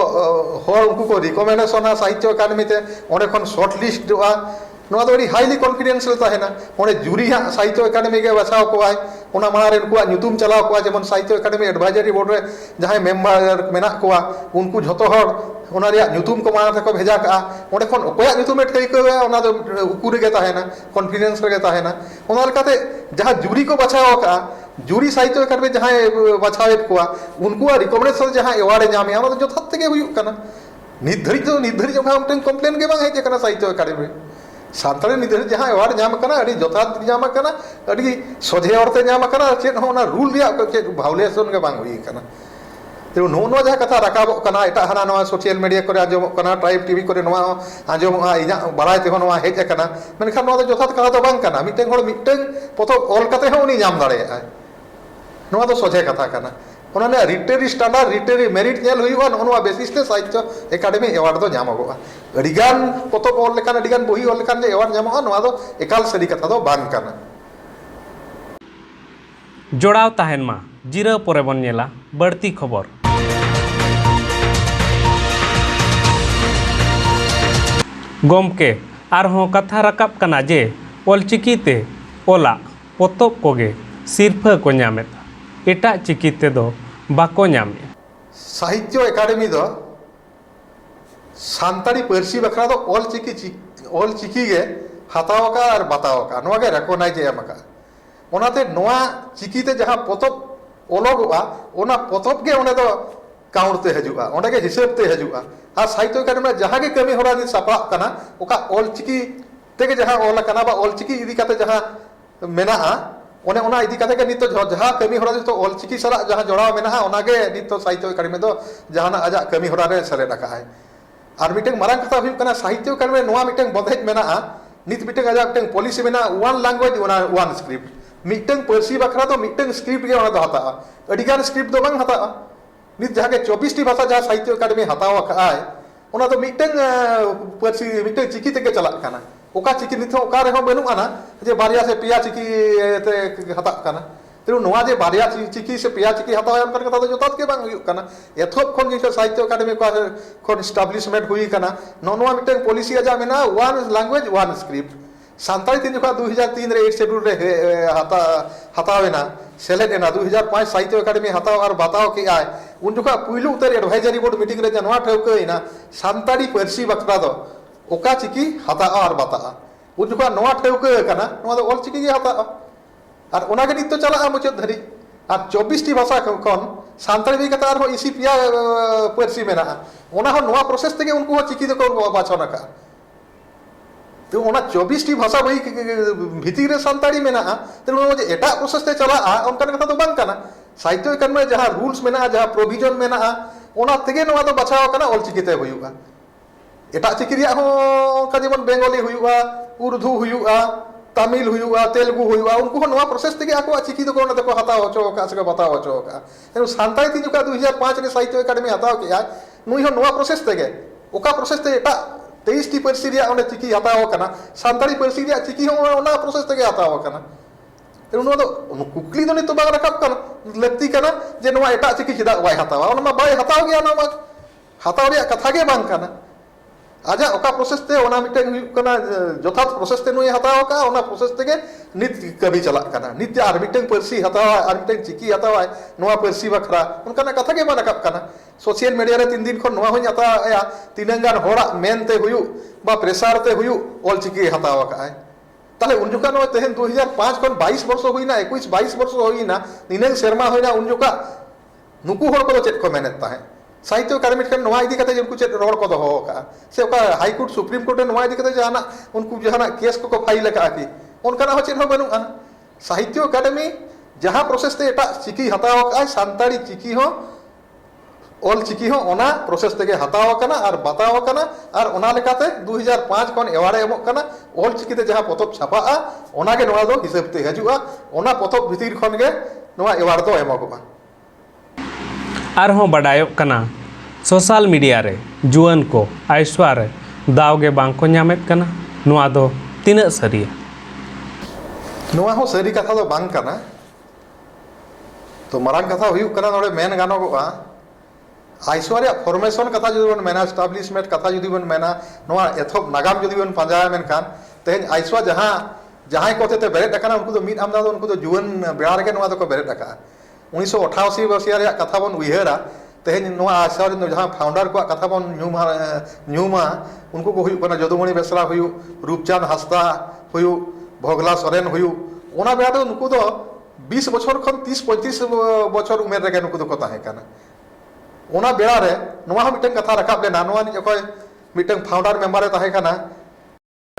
ᱦᱚᱲ ᱩᱱᱠᱩ ᱠᱚ ᱨᱤᱠᱚᱢᱮᱱᱰᱮᱥᱚᱱᱟ ᱥᱟᱦᱤᱛᱛᱚ ᱟᱠᱟᱫᱮᱢᱤ ᱛᱮ ᱚᱸᱰᱮ ᱠᱷᱚᱱ ᱥᱚᱨᱴ ᱞᱤᱥᱴᱚᱜᱼᱟ ᱱᱚᱣᱟ ᱫᱚ ᱟᱹᱰᱤ ᱦᱟᱭᱞᱤ ᱠᱚᱱᱯᱷᱤᱰᱮᱱᱥᱤᱭᱟᱞ ᱛᱟᱦᱮᱱᱟ ᱚᱸᱰᱮ ᱡᱩᱨᱤ ᱦᱟᱸᱜ ᱥᱟᱦᱤᱛᱛᱚ ᱮᱠᱟᱰᱮᱢᱤ ᱜᱮ ᱵᱟᱪᱷᱟᱣ ᱠᱚᱣᱟᱭ ᱚᱱᱟ ᱢᱟᱲᱟᱝ ᱨᱮ ᱩᱱᱠᱩᱣᱟᱜ ᱧᱩᱛᱩᱢ ᱪᱟᱞᱟᱣ ᱠᱚᱜᱼᱟ ᱡᱮᱢᱚᱱ ᱥᱟᱦᱤᱛᱛᱚ ᱮᱠᱟᱰᱮᱢᱤ ᱮᱰᱵᱷᱟᱭᱡᱟᱨᱤ ᱵᱳᱨᱰ ᱨᱮ ᱡᱟᱦᱟᱸᱭ ᱢᱮᱢᱵᱟᱨ ᱢᱮᱱᱟᱜ ᱠᱚᱣᱟ ᱩᱱᱠᱩ ᱡᱷᱚᱛᱚ ᱦᱚᱲ ᱚᱱᱟ ᱨᱮᱭᱟᱜ ᱧᱩᱛᱩᱢ ᱠᱚ ᱢᱟᱲᱟᱝ ᱨᱮᱠᱚ ᱵᱷᱮᱡᱟ ᱠᱟᱜᱼᱟ ᱚᱸᱰᱮ ᱠᱷᱚᱱ ᱚᱠᱚᱭᱟᱜ ᱧᱩᱛᱩᱢᱮ ᱴᱷᱟᱹᱣᱠᱟᱹᱭᱟ ᱚᱱᱟ ᱫᱚ ᱩᱠᱩ ᱨᱮᱜᱮ ᱛᱟᱦᱮᱱᱟ ᱠᱚᱱᱯᱷᱤᱰᱮᱱᱥ ᱨᱮᱜᱮ ᱛᱟᱦᱮᱱᱟ ᱚᱱᱟ ᱞᱮᱠᱟᱛᱮ ᱡᱟᱦᱟᱸ ᱡᱩᱨᱤ ᱠᱚ ᱵᱟᱪᱷᱟᱣ ᱠᱟᱜᱼᱟ ᱡᱩᱨᱤ ᱥᱟᱦᱤᱛᱛᱚ ᱮᱠᱟᱰᱮᱢᱤ ᱡᱟᱦᱟᱸᱭ ᱵᱟᱪᱷᱟᱣᱮᱫ ᱠᱚᱣᱟ ᱩᱱᱠᱩᱣᱟᱜ ᱨᱤᱠᱚᱢᱮᱱᱰᱮᱥᱚᱱ ᱡᱟᱦᱟᱸ ᱮᱣᱟᱨᱰ ᱮ ᱧᱟᱢᱮᱜᱼᱟ ᱚᱱᱟ ᱫᱚ ᱡᱚᱛᱷᱟᱛ ᱛᱮᱜᱮ ᱦᱩᱭᱩᱜ ᱠᱟᱱᱟ ᱱᱤᱛ ᱫᱷᱟᱹᱨᱤᱡ ᱫᱚ ᱱᱤᱛ ᱫᱷᱟᱹᱨᱤᱡ ᱚᱱᱠᱟ ᱢᱤᱫᱴᱟᱝ ᱠᱚᱢᱯᱞᱮᱱ ᱜᱮ ᱵᱟᱝ ᱦᱮᱡ ᱟᱠᱟᱱᱟ ᱥᱟᱦᱤᱛᱛᱚ ᱟᱠᱟᱰᱮᱢᱤ ᱨᱮ ᱥᱟᱱᱛᱟᱲᱤ ᱱᱤᱛ ᱫᱷᱟᱹᱨᱤᱡ ᱡᱟᱦᱟᱸ ᱮᱣᱟᱨᱰ ᱧᱟᱢ ᱟᱠᱟᱱᱟ ᱟᱹᱰᱤ ᱡᱚᱛᱷᱟᱛ ᱧᱟᱢ ᱟᱠᱟᱱᱟ ᱟᱹᱰᱤ ᱥᱚᱡᱷᱮ ᱦᱚᱨᱛᱮ ᱧᱟᱢ ᱟᱠᱟᱱᱟ ᱟᱨ ᱪᱮᱫ ᱦᱚᱸ ᱚᱱᱟ ᱨᱩᱞ ᱨᱮᱭᱟᱜ ᱫᱚ ᱪᱮᱫ ᱵᱷᱟᱣᱞᱮᱥᱚᱱ ᱜᱮ ᱵᱟᱝ ᱦᱩᱭ ᱟᱠᱟᱱᱟ ᱡᱮᱢᱚᱱ ᱱᱚᱜᱼᱚ ᱱᱚᱣᱟ ᱡᱟᱦᱟᱸ ᱠᱟᱛᱷᱟ ᱨᱟᱠᱟᱵᱚᱜ ᱠᱟᱱᱟ ᱮᱴᱟᱜ ᱦᱟᱱᱟ ᱱᱚᱣᱟ ᱥᱳᱥᱟᱞ ᱢᱤᱰᱤᱭᱟ ᱠᱚᱨᱮ ᱟᱸᱡᱚᱢᱚᱜ ᱠᱟᱱᱟ ᱴᱨᱟᱭᱤᱵᱽ ᱴᱤᱵᱷᱤ ᱠᱚᱨᱮ ᱱᱚᱣᱟ ᱦᱚᱸ ᱟᱸᱡᱚᱢᱚᱜᱼᱟ ᱤᱧᱟᱹᱜ ᱵᱟᱲᱟᱭ ᱛᱮᱦᱚᱸ ᱱᱚᱣᱟ ᱦᱮᱡ ᱟᱠᱟᱱᱟ ᱢᱮᱱᱠᱷᱟᱱ ᱱᱚᱣᱟ ᱫᱚ ᱡᱚᱛᱷᱟᱛ ᱠᱟᱛᱷᱟ ᱫᱚ ᱵᱟᱝ ᱠᱟᱱᱟ ᱢᱤᱫᱴᱟᱝ ᱦᱚᱲ ᱢᱤᱫᱴᱟᱝ ᱯᱚᱛᱚᱵ ᱚᱞ ᱠᱟᱛᱮᱫ ᱦᱚᱸ ᱩᱱᱤ ᱧᱟᱢ ᱫᱟᱲᱮᱭᱟᱜᱼᱟᱭ ᱱᱚᱣᱟ ᱫᱚ ᱥᱚᱡᱷᱮ ᱠᱟᱛᱷᱟ ᱠᱟᱱᱟ ᱚᱱᱟ ᱨᱮᱱᱟᱜ ᱨᱤᱴᱟᱨᱤ ᱥᱴᱟᱱᱰᱟᱨᱰ ᱨᱤᱴᱟᱨᱤ ᱢᱮᱨᱤᱴ ᱧᱮᱞ ᱦᱩᱭᱩᱜᱼᱟ ᱱᱚᱜᱼᱚ ᱱᱚᱣᱟ ᱵᱮᱥᱤᱥ ᱛᱮ ᱥᱟᱦᱤᱛᱛᱚ ᱮᱠᱟᱰᱮᱢᱤ ᱮᱣᱟᱨᱰ ᱫᱚ ᱧᱟᱢᱚᱜᱚᱜᱼᱟ ᱟᱹᱰᱤᱜᱟᱱ ᱯᱚᱛᱚᱵ ᱚᱞ ᱞᱮᱠᱷᱟᱱ ᱟᱹᱰᱤᱜᱟᱱ ᱵᱳᱭ ᱚᱞ ᱞᱮᱠᱷᱟᱱ ᱡᱮ ᱮᱣᱟᱨᱰ ᱧᱟᱢᱚᱜᱼᱟ ᱱᱚᱣᱟ ᱫᱚ ᱮᱠᱟᱞ ᱥᱟᱹᱨᱤ ᱠᱟᱛᱷᱟ ᱫᱚ ᱵᱟᱝ ᱠᱟᱱᱟ ᱡᱚᱲᱟᱣ ᱛᱟᱦᱮᱱ ᱢᱟ ᱡᱤᱨᱟᱹᱣ ᱯᱚᱨᱮ ᱵᱚᱱ ᱧᱮᱞᱟ ᱵᱟᱹᱲᱛᱤ ᱠᱷᱚᱵᱚᱨ᱾ ᱜᱚᱢᱠᱮ, ᱟᱨᱦᱚᱸ ᱠᱟᱛᱷᱟ ᱨᱟᱠᱟᱵ ᱠᱟᱱᱟ ᱡᱮ ᱚᱞᱪᱤᱠᱤ ᱛᱮ ᱚᱞᱟᱜ᱾ ᱯᱚᱛᱚᱵ ᱠᱚᱜᱮ ᱥᱤᱨᱯᱷᱟᱹ ᱠᱚ ᱧᱟᱢ ᱮᱫᱼᱟ᱾ ᱮᱴᱟᱜ ᱪᱤᱠᱤ ᱛᱮᱫᱚ ᱵᱟᱠᱚ ᱧᱟᱢ ᱮᱫᱼᱟ᱾ ᱥᱟᱦᱤᱛᱭᱚ ᱮᱠᱟᱰᱮᱢᱤ ᱫᱚ ᱥᱟᱱᱛᱟᱲᱤ ᱯᱟᱹᱨᱥᱤ ᱵᱟᱠᱷᱨᱟ ᱫᱚ ᱚᱞ ᱪᱤᱠᱤ ᱚᱞ ᱪᱤᱠᱤ ᱜᱮ ᱦᱟᱛᱟᱣ ᱟᱠᱟᱫᱼᱟ ᱟᱨ ᱵᱟᱛᱟᱣ ᱟᱠᱟᱫᱼᱟ᱾ ᱱᱚᱣᱟ ᱜᱮ ᱨᱮᱠᱚᱱᱟᱭᱤᱡᱽ ᱮ ᱮᱢ ᱟᱠᱟᱫᱼᱟ᱾ ᱚᱱᱟᱛᱮ ᱱᱚᱣᱟ ᱪᱤᱠᱤ ᱛᱮ ᱡᱟᱦᱟᱸ ᱯᱚᱛᱚᱵ ᱚᱞᱚᱜᱚᱜᱼᱟ ᱚᱱᱟ ᱯᱚᱛᱚᱵ ᱜᱮ ᱚᱸᱰᱮ ᱫᱚ ᱠᱟᱣᱩᱱᱴ ᱛᱮ ᱦᱤᱡᱩᱜᱼᱟ᱾ ᱚᱸᱰᱮ ᱜᱮ ᱦᱤᱥᱟᱹᱵ ᱛᱮ ᱦᱤᱡᱩᱜᱼᱟ᱾ ᱟᱨ ᱥᱟᱦᱤᱛᱭᱚ ᱮᱠᱟᱰᱮᱢᱤ ᱨᱮᱱᱟᱜ ᱡᱟᱦᱟᱸ ᱜᱮ ᱠᱟᱹᱢᱤ ᱦᱚᱨᱟ ᱜᱮ ᱥᱟᱯᱲᱟᱜ ᱠᱟᱱᱟ ᱚᱠᱟ ᱚᱞ ᱪᱤᱠᱤ ᱛᱮᱜᱮ ᱡᱟᱦᱟᱸ ᱚᱞ ᱟᱠᱟᱱᱟ ᱵᱟ ᱚᱞᱪᱤᱠᱤ ᱤᱫᱤ ᱠᱟᱛᱮ ᱡᱟᱦᱟᱸ ᱢᱮᱱᱟᱜᱼᱟ ᱚᱱᱮ ᱚᱱᱟ ᱤᱫᱤ ᱠᱟᱛᱮ ᱜᱮ ᱱᱤᱛ ᱫᱚ ᱡᱟᱦᱟᱸ ᱠᱟᱹᱢᱤ ᱦᱚᱨᱟ ᱡᱚᱛᱚ ᱚᱞᱪᱤᱠᱤ ᱥᱟᱞᱟᱜ ᱡᱟᱦᱟᱸ ᱡᱚᱲᱟᱣ ᱢᱮᱱᱟᱜᱼᱟ ᱚᱱᱟ ᱜᱮ ᱱᱤᱛ ᱫᱚ ᱥᱟᱦᱤᱛᱛᱚ ᱮᱠᱟᱰᱮᱢᱤ ᱫᱚ ᱡᱟᱦᱟᱱᱟᱜ ᱟᱡᱟᱜ ᱠᱟᱹᱢᱤ ᱦᱚᱨᱟ ᱨᱮ ᱥᱮᱞᱮᱫ ᱟᱠᱟᱫ ᱟᱭ ᱟᱨ ᱢᱤᱫᱴᱟᱝ ᱢᱟᱨᱟᱝ ᱠᱟᱛᱷᱟ ᱦᱩᱭᱩᱜ ᱠᱟᱱᱟ ᱥᱟᱦᱤᱛᱛᱚ ᱮᱠᱟᱰᱮᱢᱤ ᱱᱚᱣᱟ ᱢᱤᱫᱴᱟᱝ ᱵᱚᱱᱫᱮᱡ ᱢᱮᱱᱟᱜᱼᱟ ᱱᱤᱛ ᱢᱤᱫᱴᱟᱝ ᱟᱡᱟᱜ ᱢᱤᱫᱴᱟᱝ ᱯᱚᱞᱤᱥᱤ ᱢᱮᱱᱟᱜᱼᱟ ᱚᱣᱟᱱ ᱞᱟᱝᱜᱩᱭᱮᱡᱽ ᱚᱣᱟᱱ ᱥᱠᱨᱤᱯᱴ ᱢᱤᱫᱴᱟᱝ ᱯᱟᱹᱨᱥᱤ ᱵᱟᱠᱷᱨᱟ ᱫᱚ ᱢᱤᱫᱴᱟᱝ ᱥᱠᱨᱤᱯᱴ ᱜᱮ ᱚᱱᱟ ᱫᱚ ᱦᱟᱛᱟᱜᱼᱟ ᱟᱹᱰᱤ ᱜᱟᱱ ᱥᱠᱨᱤᱯᱴ ᱫᱚ ᱵᱟᱝ ᱦᱟᱛᱟᱜᱼᱟ ᱱᱤᱛ ᱡᱟᱦᱟᱸ ᱜᱮ ᱪᱚᱵᱽᱵᱤᱥ ᱴᱤ ᱵᱷᱟᱥᱟ ᱡᱟᱦᱟᱸ ᱥᱟᱦᱤᱛᱭᱚ ᱟᱠᱟᱰᱮᱢᱤ ᱦᱟᱛᱟᱣ ᱟᱠᱟᱫ ᱟᱭ ᱚᱱᱟ ᱫᱚ ᱢᱤᱫᱴᱟᱝ ᱯᱟᱹᱨᱥᱤ ᱢᱤᱫᱴᱟᱝ ᱪᱤᱠᱤ ᱛᱮᱜᱮ ᱪᱟᱞᱟᱜ ᱠᱟᱱᱟ ᱚᱠᱟ ᱪᱤᱠᱤ ᱱᱤᱛ ᱦᱚᱸ ᱚᱠᱟ ᱨᱮᱦᱚᱸ ᱵᱟᱹᱱᱩᱜ ᱟᱱᱟ ᱡᱮ ᱵᱟᱨᱭᱟ ᱥᱮ ᱯᱮᱭᱟ ᱪᱤᱠᱤ ᱛᱮ ᱦᱟᱛᱟᱜ ᱠᱟᱱᱟ ᱛᱮᱬᱩ ᱱᱚᱣᱟ ᱡᱮ ᱵᱟᱨᱭᱟ ᱪᱤᱠᱤ ᱥᱮ ᱯᱮᱭᱟ ᱪᱤᱠᱤ ᱦᱟᱛᱟᱣ ᱟᱭ ᱚᱱᱠᱟᱱ ᱠᱟᱛᱷᱟ ᱫᱚ ᱡᱚᱛᱷᱟᱛ ᱜᱮ ᱵᱟᱝ ᱦᱩᱭᱩᱜ ᱠᱟᱱᱟ ᱮᱛᱚᱦᱚᱵ ᱠᱷᱚᱱ ᱜᱮ ᱱᱤᱛᱚᱜ ᱥᱟᱦᱤᱛᱭᱚ ᱟᱠᱟᱰᱮᱢᱤ ᱯᱟᱦᱴᱟ ᱠᱷᱚᱱ ᱮᱥᱴᱟᱵᱽᱞᱤᱥᱢᱮᱱᱴ ᱦᱩᱭ ᱟᱠᱟᱱᱟ ᱱᱚᱜᱼᱚ ᱱᱚᱣᱟ ᱢᱤᱫᱴᱟᱝ ᱯᱚᱞᱤᱥᱤ ᱟᱡᱟᱜ ᱢᱮᱱᱟᱜᱼᱟ own language own script Santali ᱛᱤᱱ ᱡᱚᱠᱷᱟᱜ ᱫᱩᱭ ᱦᱟᱡᱟᱨ ᱛᱤᱱ ᱨᱮ ᱮᱭᱤᱴ ᱥᱮᱰᱩᱞ ᱨᱮ ᱦᱟᱛᱟᱣ ᱮᱱᱟ ᱥᱮᱞᱮᱫ ᱮᱱᱟ ᱫᱩᱭ ᱦᱟᱡᱟᱨ ᱯᱟᱸᱪ ᱥᱟᱦᱤᱛᱭᱚ ᱟᱠᱟᱰᱮᱢᱤ ᱦᱟᱛᱟᱣ ᱟᱨ ᱵᱟᱛᱟᱣ ᱠᱮᱫ ᱟᱭ ᱩᱱ ᱡᱚᱠᱷᱟᱜ ᱯᱩᱭᱞᱩ ᱩᱛᱟᱹᱨ ᱮᱰᱵᱷᱟᱭᱡᱟᱨᱤ ᱵᱳᱨᱰ ᱢᱤᱴᱤᱝ ᱨᱮ ᱱᱚᱣᱟ ᱴᱷᱟᱹᱣᱠᱟᱹ ᱮᱱᱟ ᱥᱟᱱᱛᱟᱲᱤ ᱯᱟᱹᱨᱥᱤ ᱵᱟᱠᱷᱨᱟ ᱫᱚ ᱚᱠᱟ ᱪᱤᱠᱤ ᱦᱟᱛᱟᱜᱼᱟ ᱟᱨ ᱵᱟᱛᱟᱜᱼᱟ ᱩᱱ ᱡᱚᱠᱷᱟᱜ ᱱᱚᱣᱟ ᱴᱷᱟᱹᱣᱠᱟᱹ ᱟᱠᱟᱱᱟ ᱱᱚᱣᱟ ᱫᱚ ᱚᱞ ᱪᱤᱠᱤ ᱜᱮ ᱦᱟᱛᱟᱜᱼᱟ ᱟᱨ ᱚᱱᱟ ᱜᱮ ᱱᱤᱛ ᱫᱚ ᱪᱟᱞᱟᱜᱼᱟ ᱢᱩᱪᱟᱹᱫ ᱫᱷᱟᱹᱨᱤᱡ ᱟᱨ ᱪᱚᱵᱽᱵᱤᱥ ᱴᱤ ᱵᱷᱟᱥᱟ ᱠᱷᱚᱱ ᱥᱟᱱᱛᱟᱲᱤ ᱵᱟᱹᱜᱤ ᱠᱟᱛᱮ ᱟᱨᱦᱚᱸ ᱤᱥᱤ ᱯᱮᱭᱟ ᱯᱟᱹᱨᱥᱤ ᱢᱮᱱᱟᱜᱼᱟ ᱚᱱᱟ ᱦᱚᱸ ᱱᱚᱣᱟ ᱯᱨᱚᱥᱮᱥ ᱛᱮᱜᱮ ᱩᱱᱠᱩ ᱦᱚᱸ ᱪᱤᱠᱤ ᱫᱚᱠᱚ ᱵᱟᱪᱷᱚᱱ ᱟᱠᱟᱫᱼᱟ ᱛᱚ ᱚᱱᱟ ᱪᱚᱵᱽᱵᱤᱥᱴᱤ ᱵᱷᱟᱥᱟ ᱵᱳᱭ ᱵᱷᱤᱛᱤᱨ ᱨᱮ ᱥᱟᱱᱛᱟᱲᱤ ᱢᱮᱱᱟᱜᱼᱟ ᱛᱟᱦᱚᱞᱮ ᱱᱚᱣᱟ ᱡᱮ ᱮᱴᱟᱜ ᱯᱨᱚᱥᱮᱥ ᱛᱮ ᱪᱟᱞᱟᱜᱼᱟ ᱚᱱᱠᱟᱱ ᱠᱟᱛᱷᱟ ᱫᱚ ᱵᱟᱝ ᱠᱟᱱᱟ ᱥᱟᱦᱤᱛᱛᱚ ᱮᱠᱟᱰᱮᱢᱤ ᱨᱮ ᱡᱟᱦᱟᱸ ᱨᱩᱞᱥ ᱢᱮᱱᱟᱜᱼᱟ ᱡᱟᱦᱟᱸ ᱯᱨᱚᱵᱷᱤᱡᱚᱱ ᱢᱮᱱᱟᱜᱼᱟ ᱚᱱᱟ ᱛᱮᱜᱮ ᱱᱚᱣᱟ ᱫᱚ ᱵᱟᱪᱷᱟᱣ ᱟᱠᱟᱱᱟ ᱚᱞ ᱪᱤᱠᱤ ᱛᱮ ᱦᱩᱭᱩᱜᱼᱟ ᱮᱴᱟᱜ ᱪᱤᱠᱤ ᱨᱮᱭᱟᱜ ᱦᱚᱸ ᱚᱱᱠᱟ ᱡᱮᱢᱚᱱ ᱵᱮᱝᱜᱚᱞᱤ ᱦᱩᱭᱩᱜᱼᱟ ᱩᱨᱫᱩ ᱦᱩᱭᱩᱜᱼᱟ ᱛᱟᱢᱤᱞ ᱦᱩᱭᱩᱜᱼᱟ ᱛᱮᱞᱮᱜᱩ ᱦᱩᱭᱩᱜᱼᱟ ᱩᱱᱠᱩ ᱦᱚᱸ ᱱᱚᱣᱟ ᱯᱨᱚᱥᱮᱥ ᱛᱮᱜᱮ ᱟᱠᱚᱣᱟᱜ ᱪᱤᱠᱤ ᱫᱚᱠᱚ ᱚᱸᱰᱮ ᱫᱚᱠᱚ ᱦᱟᱛᱟᱣ ᱦᱚᱪᱚ ᱟᱠᱟᱫᱼᱟ ᱥᱮᱠᱚ ᱵᱟᱛᱟᱣ ᱦᱚᱪᱚ ᱟᱠᱟᱫᱼᱟ ᱮᱱᱦᱚᱸ ᱥᱟᱱᱛᱟᱲᱤ ᱛᱮ ᱡᱚᱠᱷᱚᱱ ᱫᱩ ᱦᱟᱡᱟᱨ ᱯᱟᱸᱪ ᱨᱮ ᱥᱟᱦᱤᱛᱭᱚ ᱮᱠᱟᱰᱮᱢᱤ ᱦᱟᱛᱟᱣ ᱠᱮᱫᱼᱟᱭ ᱱᱩᱭ ᱦᱚᱸ ᱱᱚᱣᱟ ᱯᱨᱚᱥᱮᱥ ᱛᱮᱜᱮ ᱚᱠᱟ ᱯᱨᱚᱥᱮᱥ ᱛᱮ ᱮᱴᱟᱜ ᱛᱮᱭᱤᱥ ᱴᱤ ᱯᱟᱹᱨᱥᱤ ᱨᱮᱭᱟᱜ ᱚᱸᱰᱮ ᱪᱤᱠᱤ ᱦᱟᱛᱟᱣ ᱟᱠᱟᱱᱟ ᱥᱟᱱᱛᱟᱲᱤ ᱯᱟᱹᱨᱥᱤ ᱨᱮᱭᱟᱜ ᱪᱤᱠᱤ ᱦᱚᱸ ᱚᱱᱟ ᱯᱨᱚᱥᱮᱥ ᱛᱮᱜᱮ ᱦᱟᱛᱟᱣ ᱟᱠᱟᱱᱟ ᱛᱮ ᱱᱚᱣᱟ ᱫᱚ ᱠᱩᱠᱞᱤ ᱫᱚ ᱱᱤᱛᱚᱜ ᱵᱟᱝ ᱨᱟᱠᱟᱵ ᱠᱟᱱᱟ ᱞᱟᱹᱠᱛᱤ ᱠᱟᱱᱟ ᱡᱮ ᱱᱚᱣᱟ ᱮᱴᱟᱜ ᱪᱤᱠᱤ ᱪᱮᱫᱟᱜ ᱵᱟᱭ ᱦᱟᱛᱟᱣᱟ ᱚᱱᱟ ᱢᱟ ᱵᱟᱭ ᱦᱟᱛᱟᱣ ᱜᱮᱭᱟ ᱚᱱᱟ ᱢᱟ ᱦᱟᱛᱟᱣ ᱨᱮᱭᱟᱜ ᱠᱟᱛᱷᱟ ᱜᱮ ᱵᱟᱝ ᱠᱟᱱᱟ ᱟᱡᱟᱜ ᱚᱠᱟ ᱯᱨᱚᱥᱮᱥ ᱛᱮ ᱚᱱᱟ ᱢᱤᱫᱴᱮᱱ ᱦᱩᱭᱩᱜ ᱠᱟᱱᱟ ᱡᱚᱛᱷᱟᱛ ᱯᱨᱚᱥᱮᱥ ᱛᱮ ᱱᱩᱭᱮ ᱦᱟᱛᱟᱣ ᱟᱠᱟᱫᱼᱟ ᱚᱱᱟ ᱯᱨᱚᱥᱮᱥ ᱛᱮᱜᱮ ᱱᱤᱛ ᱠᱟᱹᱢᱤ ᱪᱟᱞᱟᱜ ᱠᱟᱱᱟ ᱱᱤᱛ ᱡᱮ ᱟᱨ ᱢᱤᱫᱴᱮᱱ ᱯᱟᱹᱨᱥᱤ ᱦᱟᱛᱟᱣᱟᱭ ᱟᱨ ᱢᱤᱫᱴᱮᱱ ᱪᱤᱠᱤ ᱦᱟᱛᱟᱣᱟᱭ ᱱᱚᱣᱟ ᱯᱟᱹᱨᱥᱤ ᱵᱟᱠᱷᱨᱟ ᱚᱱᱠᱟᱱᱟᱜ ᱠᱟᱛᱷᱟ ᱜᱮ ᱵᱟᱝ ᱨᱟᱠᱟᱵ ᱠᱟᱱᱟ ᱥᱳᱥᱟᱞ ᱢᱤᱰᱤᱭᱟ ᱨᱮ ᱛᱤᱱ ᱫᱤᱱ ᱠᱷᱚᱱ ᱱᱚᱣᱟ ᱦᱚᱧ ᱦᱟᱛᱟᱣᱮᱫᱼᱟ ᱛᱤᱱᱟᱹᱜ ᱜᱟᱱ ᱦᱚᱲᱟᱜ ᱢᱮᱱ ᱛᱮ ᱦᱩᱭᱩᱜ ᱵᱟ ᱯᱨᱮᱥᱟᱨ ᱛᱮ ᱦᱩᱭᱩᱜ ᱚᱞ ᱪᱤᱠᱤ ᱦᱟᱛᱟᱣ ᱟᱠᱟᱫᱼᱟᱭ ᱛᱟᱦᱚᱞᱮ ᱩᱱ ᱡᱚᱠᱷᱟᱱ ᱱᱚᱜᱼᱚᱭ ᱛᱮᱦᱮᱧ ᱫᱩ ᱦᱟᱡᱟᱨ ᱯᱟᱸᱪ ᱠᱷᱚᱱ ᱵᱟᱭᱤᱥ ᱵᱚᱨᱥᱚ ᱦᱩᱭᱱᱟ ᱮᱠᱩᱥ ᱵᱟᱭᱤᱥ ᱵᱚᱨᱥᱚ ᱦᱩᱭᱱᱟ ᱱᱤᱱᱟᱹᱝ ᱥᱮᱨᱢᱟ ᱦᱩᱭᱱᱟ ᱩᱱ ᱡᱚᱠᱷᱟᱱ ᱱᱩᱠᱩ ᱦᱚᱲ ᱠᱚᱫᱚ ᱪᱮᱫ ᱠᱚ ᱢᱮᱱᱮᱫ ᱛᱟᱦᱮᱸᱫ? ᱥᱟᱦᱤᱛᱭᱚ ᱟᱠᱟᱫᱮᱢᱤ ᱴᱷᱮᱱ ᱱᱚᱣᱟ ᱤᱫᱤ ᱠᱟᱛᱮ ᱡᱮ ᱩᱱᱠᱩ ᱪᱮᱫ ᱨᱚᱲ ᱠᱚ ᱫᱚᱦᱚ ᱟᱠᱟᱫᱼᱟ ᱥᱮ ᱚᱠᱟ ᱦᱟᱭᱠᱳᱨᱴ ᱥᱩᱯᱨᱤᱢ ᱠᱳᱨᱴ ᱨᱮ ᱱᱚᱣᱟ ᱤᱫᱤ ᱠᱟᱛᱮ ᱡᱟᱦᱟᱱᱟᱜ ᱩᱱᱠᱩ ᱡᱟᱦᱟᱱᱟᱜ ᱠᱮᱥ ᱠᱚᱠᱚ ᱯᱷᱟᱭᱤᱞ ᱟᱠᱟᱫᱼᱟ ᱠᱤ ᱚᱱᱠᱟᱱᱟᱜ ᱦᱚᱸ ᱪᱮᱫ ᱦᱚᱸ ᱵᱟᱹᱱᱩᱜ ᱟᱱ ᱥᱟᱦᱤᱛᱭᱚ ᱟᱠᱟᱫᱮᱢᱤ ᱡᱟᱦᱟᱸ ᱯᱨᱚᱥᱮᱥ ᱛᱮ ᱮᱴᱟᱜ ᱪᱤᱠᱤ ᱦᱟᱛᱟᱣ ᱟᱠᱟᱫ ᱟᱭ ᱥᱟᱱᱛᱟᱲᱤ ᱪᱤᱠᱤ ᱦᱚᱸ ᱚᱞ ᱪᱤᱠᱤ ᱦᱚᱸ ᱚᱱᱟ ᱯᱨᱚᱥᱮᱥ ᱛᱮᱜᱮ ᱦᱟᱛᱟᱣ ᱟᱠᱟᱱᱟ ᱟᱨ ᱵᱟᱛᱟᱣ ᱟᱠᱟᱱᱟ ᱟᱨ ᱚᱱᱟ ᱞᱮᱠᱟᱛᱮ ᱫᱩ ᱦᱟᱡᱟᱨ ᱯᱟᱸᱪ ᱠᱷᱚᱱ ᱮᱣᱟᱨᱰ ᱮ ᱮᱢᱚᱜ ᱠᱟᱱᱟ ᱚᱞ ᱪᱤᱠᱤ ᱛᱮ ᱡᱟᱦᱟᱸ ᱯᱚᱛᱚᱵ ᱪᱷᱟᱯᱟᱜᱼᱟ ᱚᱱᱟ ᱜᱮ ᱱᱚᱣᱟ ᱫᱚ ᱦᱤᱥᱟᱹᱵ ᱛᱮ ᱦᱤᱡᱩᱜᱼᱟ ᱚᱱᱟ ᱯᱚᱛᱚᱵ ᱵᱷᱤᱛᱤᱨ ᱠᱷᱚᱱ ᱜᱮ ᱱᱚᱣᱟ ᱮᱣᱟᱨᱰ ᱫᱚ ᱮᱢᱚᱜᱚᱜᱼᱟ ᱟᱨᱦᱚᱸ ᱵᱟᱰᱟᱭᱚᱜ ᱠᱟᱱᱟ ᱥᱳᱥᱟᱞ ᱢᱤᱰᱤᱭᱟ ᱨᱮ ᱡᱩᱣᱟᱹᱱ ᱠᱚ ᱟᱭᱥᱣᱟ ᱨᱮ ᱫᱟᱣ ᱜᱮ ᱵᱟᱝ ᱠᱚ ᱧᱟᱢᱮᱫ ᱠᱟᱱᱟ, ᱱᱚᱣᱟ ᱫᱚ ᱛᱤᱱᱟᱹᱜ ᱥᱟᱹᱨᱤᱭᱟ? ᱱᱚᱣᱟ ᱦᱚᱸ ᱥᱟᱹᱨᱤ ᱠᱟᱛᱷᱟ ᱫᱚ ᱵᱟᱝ ᱠᱟᱱᱟ᱾ ᱛᱚ ᱢᱟᱨᱟᱝ ᱠᱟᱛᱷᱟ ᱦᱩᱭᱩᱜ ᱠᱟᱱᱟ ᱱᱚᱰᱮ ᱢᱮᱱ ᱜᱟᱱᱚᱜᱚᱜᱼᱟ ᱟᱭᱥᱣᱟ ᱨᱮᱭᱟᱜ ᱯᱷᱚᱨᱢᱮᱥᱚᱱ ᱠᱟᱛᱷᱟ ᱡᱩᱫᱤ ᱵᱚᱱ ᱢᱮᱱᱟ, ᱮᱥᱴᱟᱵᱽᱞᱤᱥᱢᱮᱸᱴ ᱠᱟᱛᱷᱟ ᱡᱩᱫᱤ ᱵᱚᱱ ᱢᱮᱱᱟ, ᱱᱚᱣᱟ ᱮᱛᱚᱦᱚᱵ ᱱᱟᱜᱟᱢ ᱡᱩᱫᱤ ᱵᱚᱱ ᱯᱟᱸᱡᱟᱭᱟ ᱢᱮᱱᱠᱷᱟᱱ ᱛᱮᱦᱮᱧ ᱟᱭᱥᱣᱟ ᱡᱟᱦᱟᱸ ᱡᱟᱦᱟᱸᱭ ᱠᱚ ᱦᱚᱛᱮᱛᱮ ᱵᱮᱨᱮᱫ ᱟᱠᱟᱱᱟ ᱩᱱᱠᱩ ᱫᱚ ᱢᱤᱫ ᱟᱢᱫᱟ ᱫᱚ ᱩᱱᱠᱩ ᱫᱚ ᱡᱩᱣᱟᱹᱱ ᱵᱮᱲᱟ ᱨᱮᱜᱮ ᱱᱚᱣᱟ ᱫᱚᱠᱚ ᱵᱮᱨᱮᱫ ᱟᱠᱟᱫᱼᱟ᱾ ᱩᱱᱤᱥ ᱥᱚ ᱚᱴᱷᱟᱣᱥᱤ ᱢᱚᱥᱤᱦᱟ ᱨᱮᱭᱟᱜ ᱠᱟᱛᱷᱟ ᱵᱚᱱ ᱩᱭᱦᱟᱹᱨᱟ, ᱛᱮᱦᱮᱧ ᱱᱚᱣᱟ ᱟᱭᱥᱣᱟ ᱨᱮᱱ ᱫᱚ ᱡᱟᱦᱟᱸ ᱯᱷᱟᱣᱩᱱᱰᱟᱨ ᱠᱚᱣᱟᱜ ᱠᱟᱛᱷᱟ ᱵᱚᱱ ᱧᱩᱢ ᱧᱩᱢᱟ ᱩᱱᱠᱩ ᱠᱚ ᱦᱩᱭᱩᱜ ᱠᱟᱱᱟ ᱡᱚᱫᱩᱢᱚᱬᱤ ᱵᱮᱥᱨᱟ ᱦᱩᱭᱩᱜ, ᱨᱩᱯᱪᱟᱸᱫᱽ ᱦᱟᱸᱥᱫᱟᱜ ᱦᱩᱭᱩᱜ, ᱵᱷᱚᱜᱽᱞᱟ ᱥᱚᱨᱮᱱ ᱦᱩᱭᱩᱜ, ᱚᱱᱟ ᱵᱮᱲᱟ ᱫᱚ ᱱᱩᱠᱩ ᱫᱚ ᱵᱤᱥ ᱵᱚᱪᱷᱚᱨ ᱠᱷᱚᱱ ᱛᱤᱥ ᱯᱚᱸᱭᱛᱨᱤᱥ ᱵᱚᱪᱷᱚᱨ ᱩᱢᱮᱨ ᱨᱮᱜᱮ ᱱᱩᱠᱩ ᱫᱚᱠᱚ ᱛᱟᱦᱮᱸ ᱠᱟᱱᱟ᱾ ᱚᱱᱟ ᱵᱮᱲᱟ ᱨᱮ ᱱᱚᱣᱟ ᱦᱚᱸ ᱢᱤᱫᱴᱟᱝ ᱠᱟᱛᱷᱟ ᱨᱟᱠᱟᱵ ᱞᱮᱱᱟ ᱱᱚᱣᱟ ᱨᱤᱱᱤᱡ ᱚᱠᱚᱭ ᱢᱤᱫᱴᱟᱝ ᱯᱷᱟᱣᱩᱱᱰᱟᱨ ᱢᱮᱢᱵᱟᱨ ᱮ ᱛᱟᱦᱮᱸ ᱠᱟᱱᱟ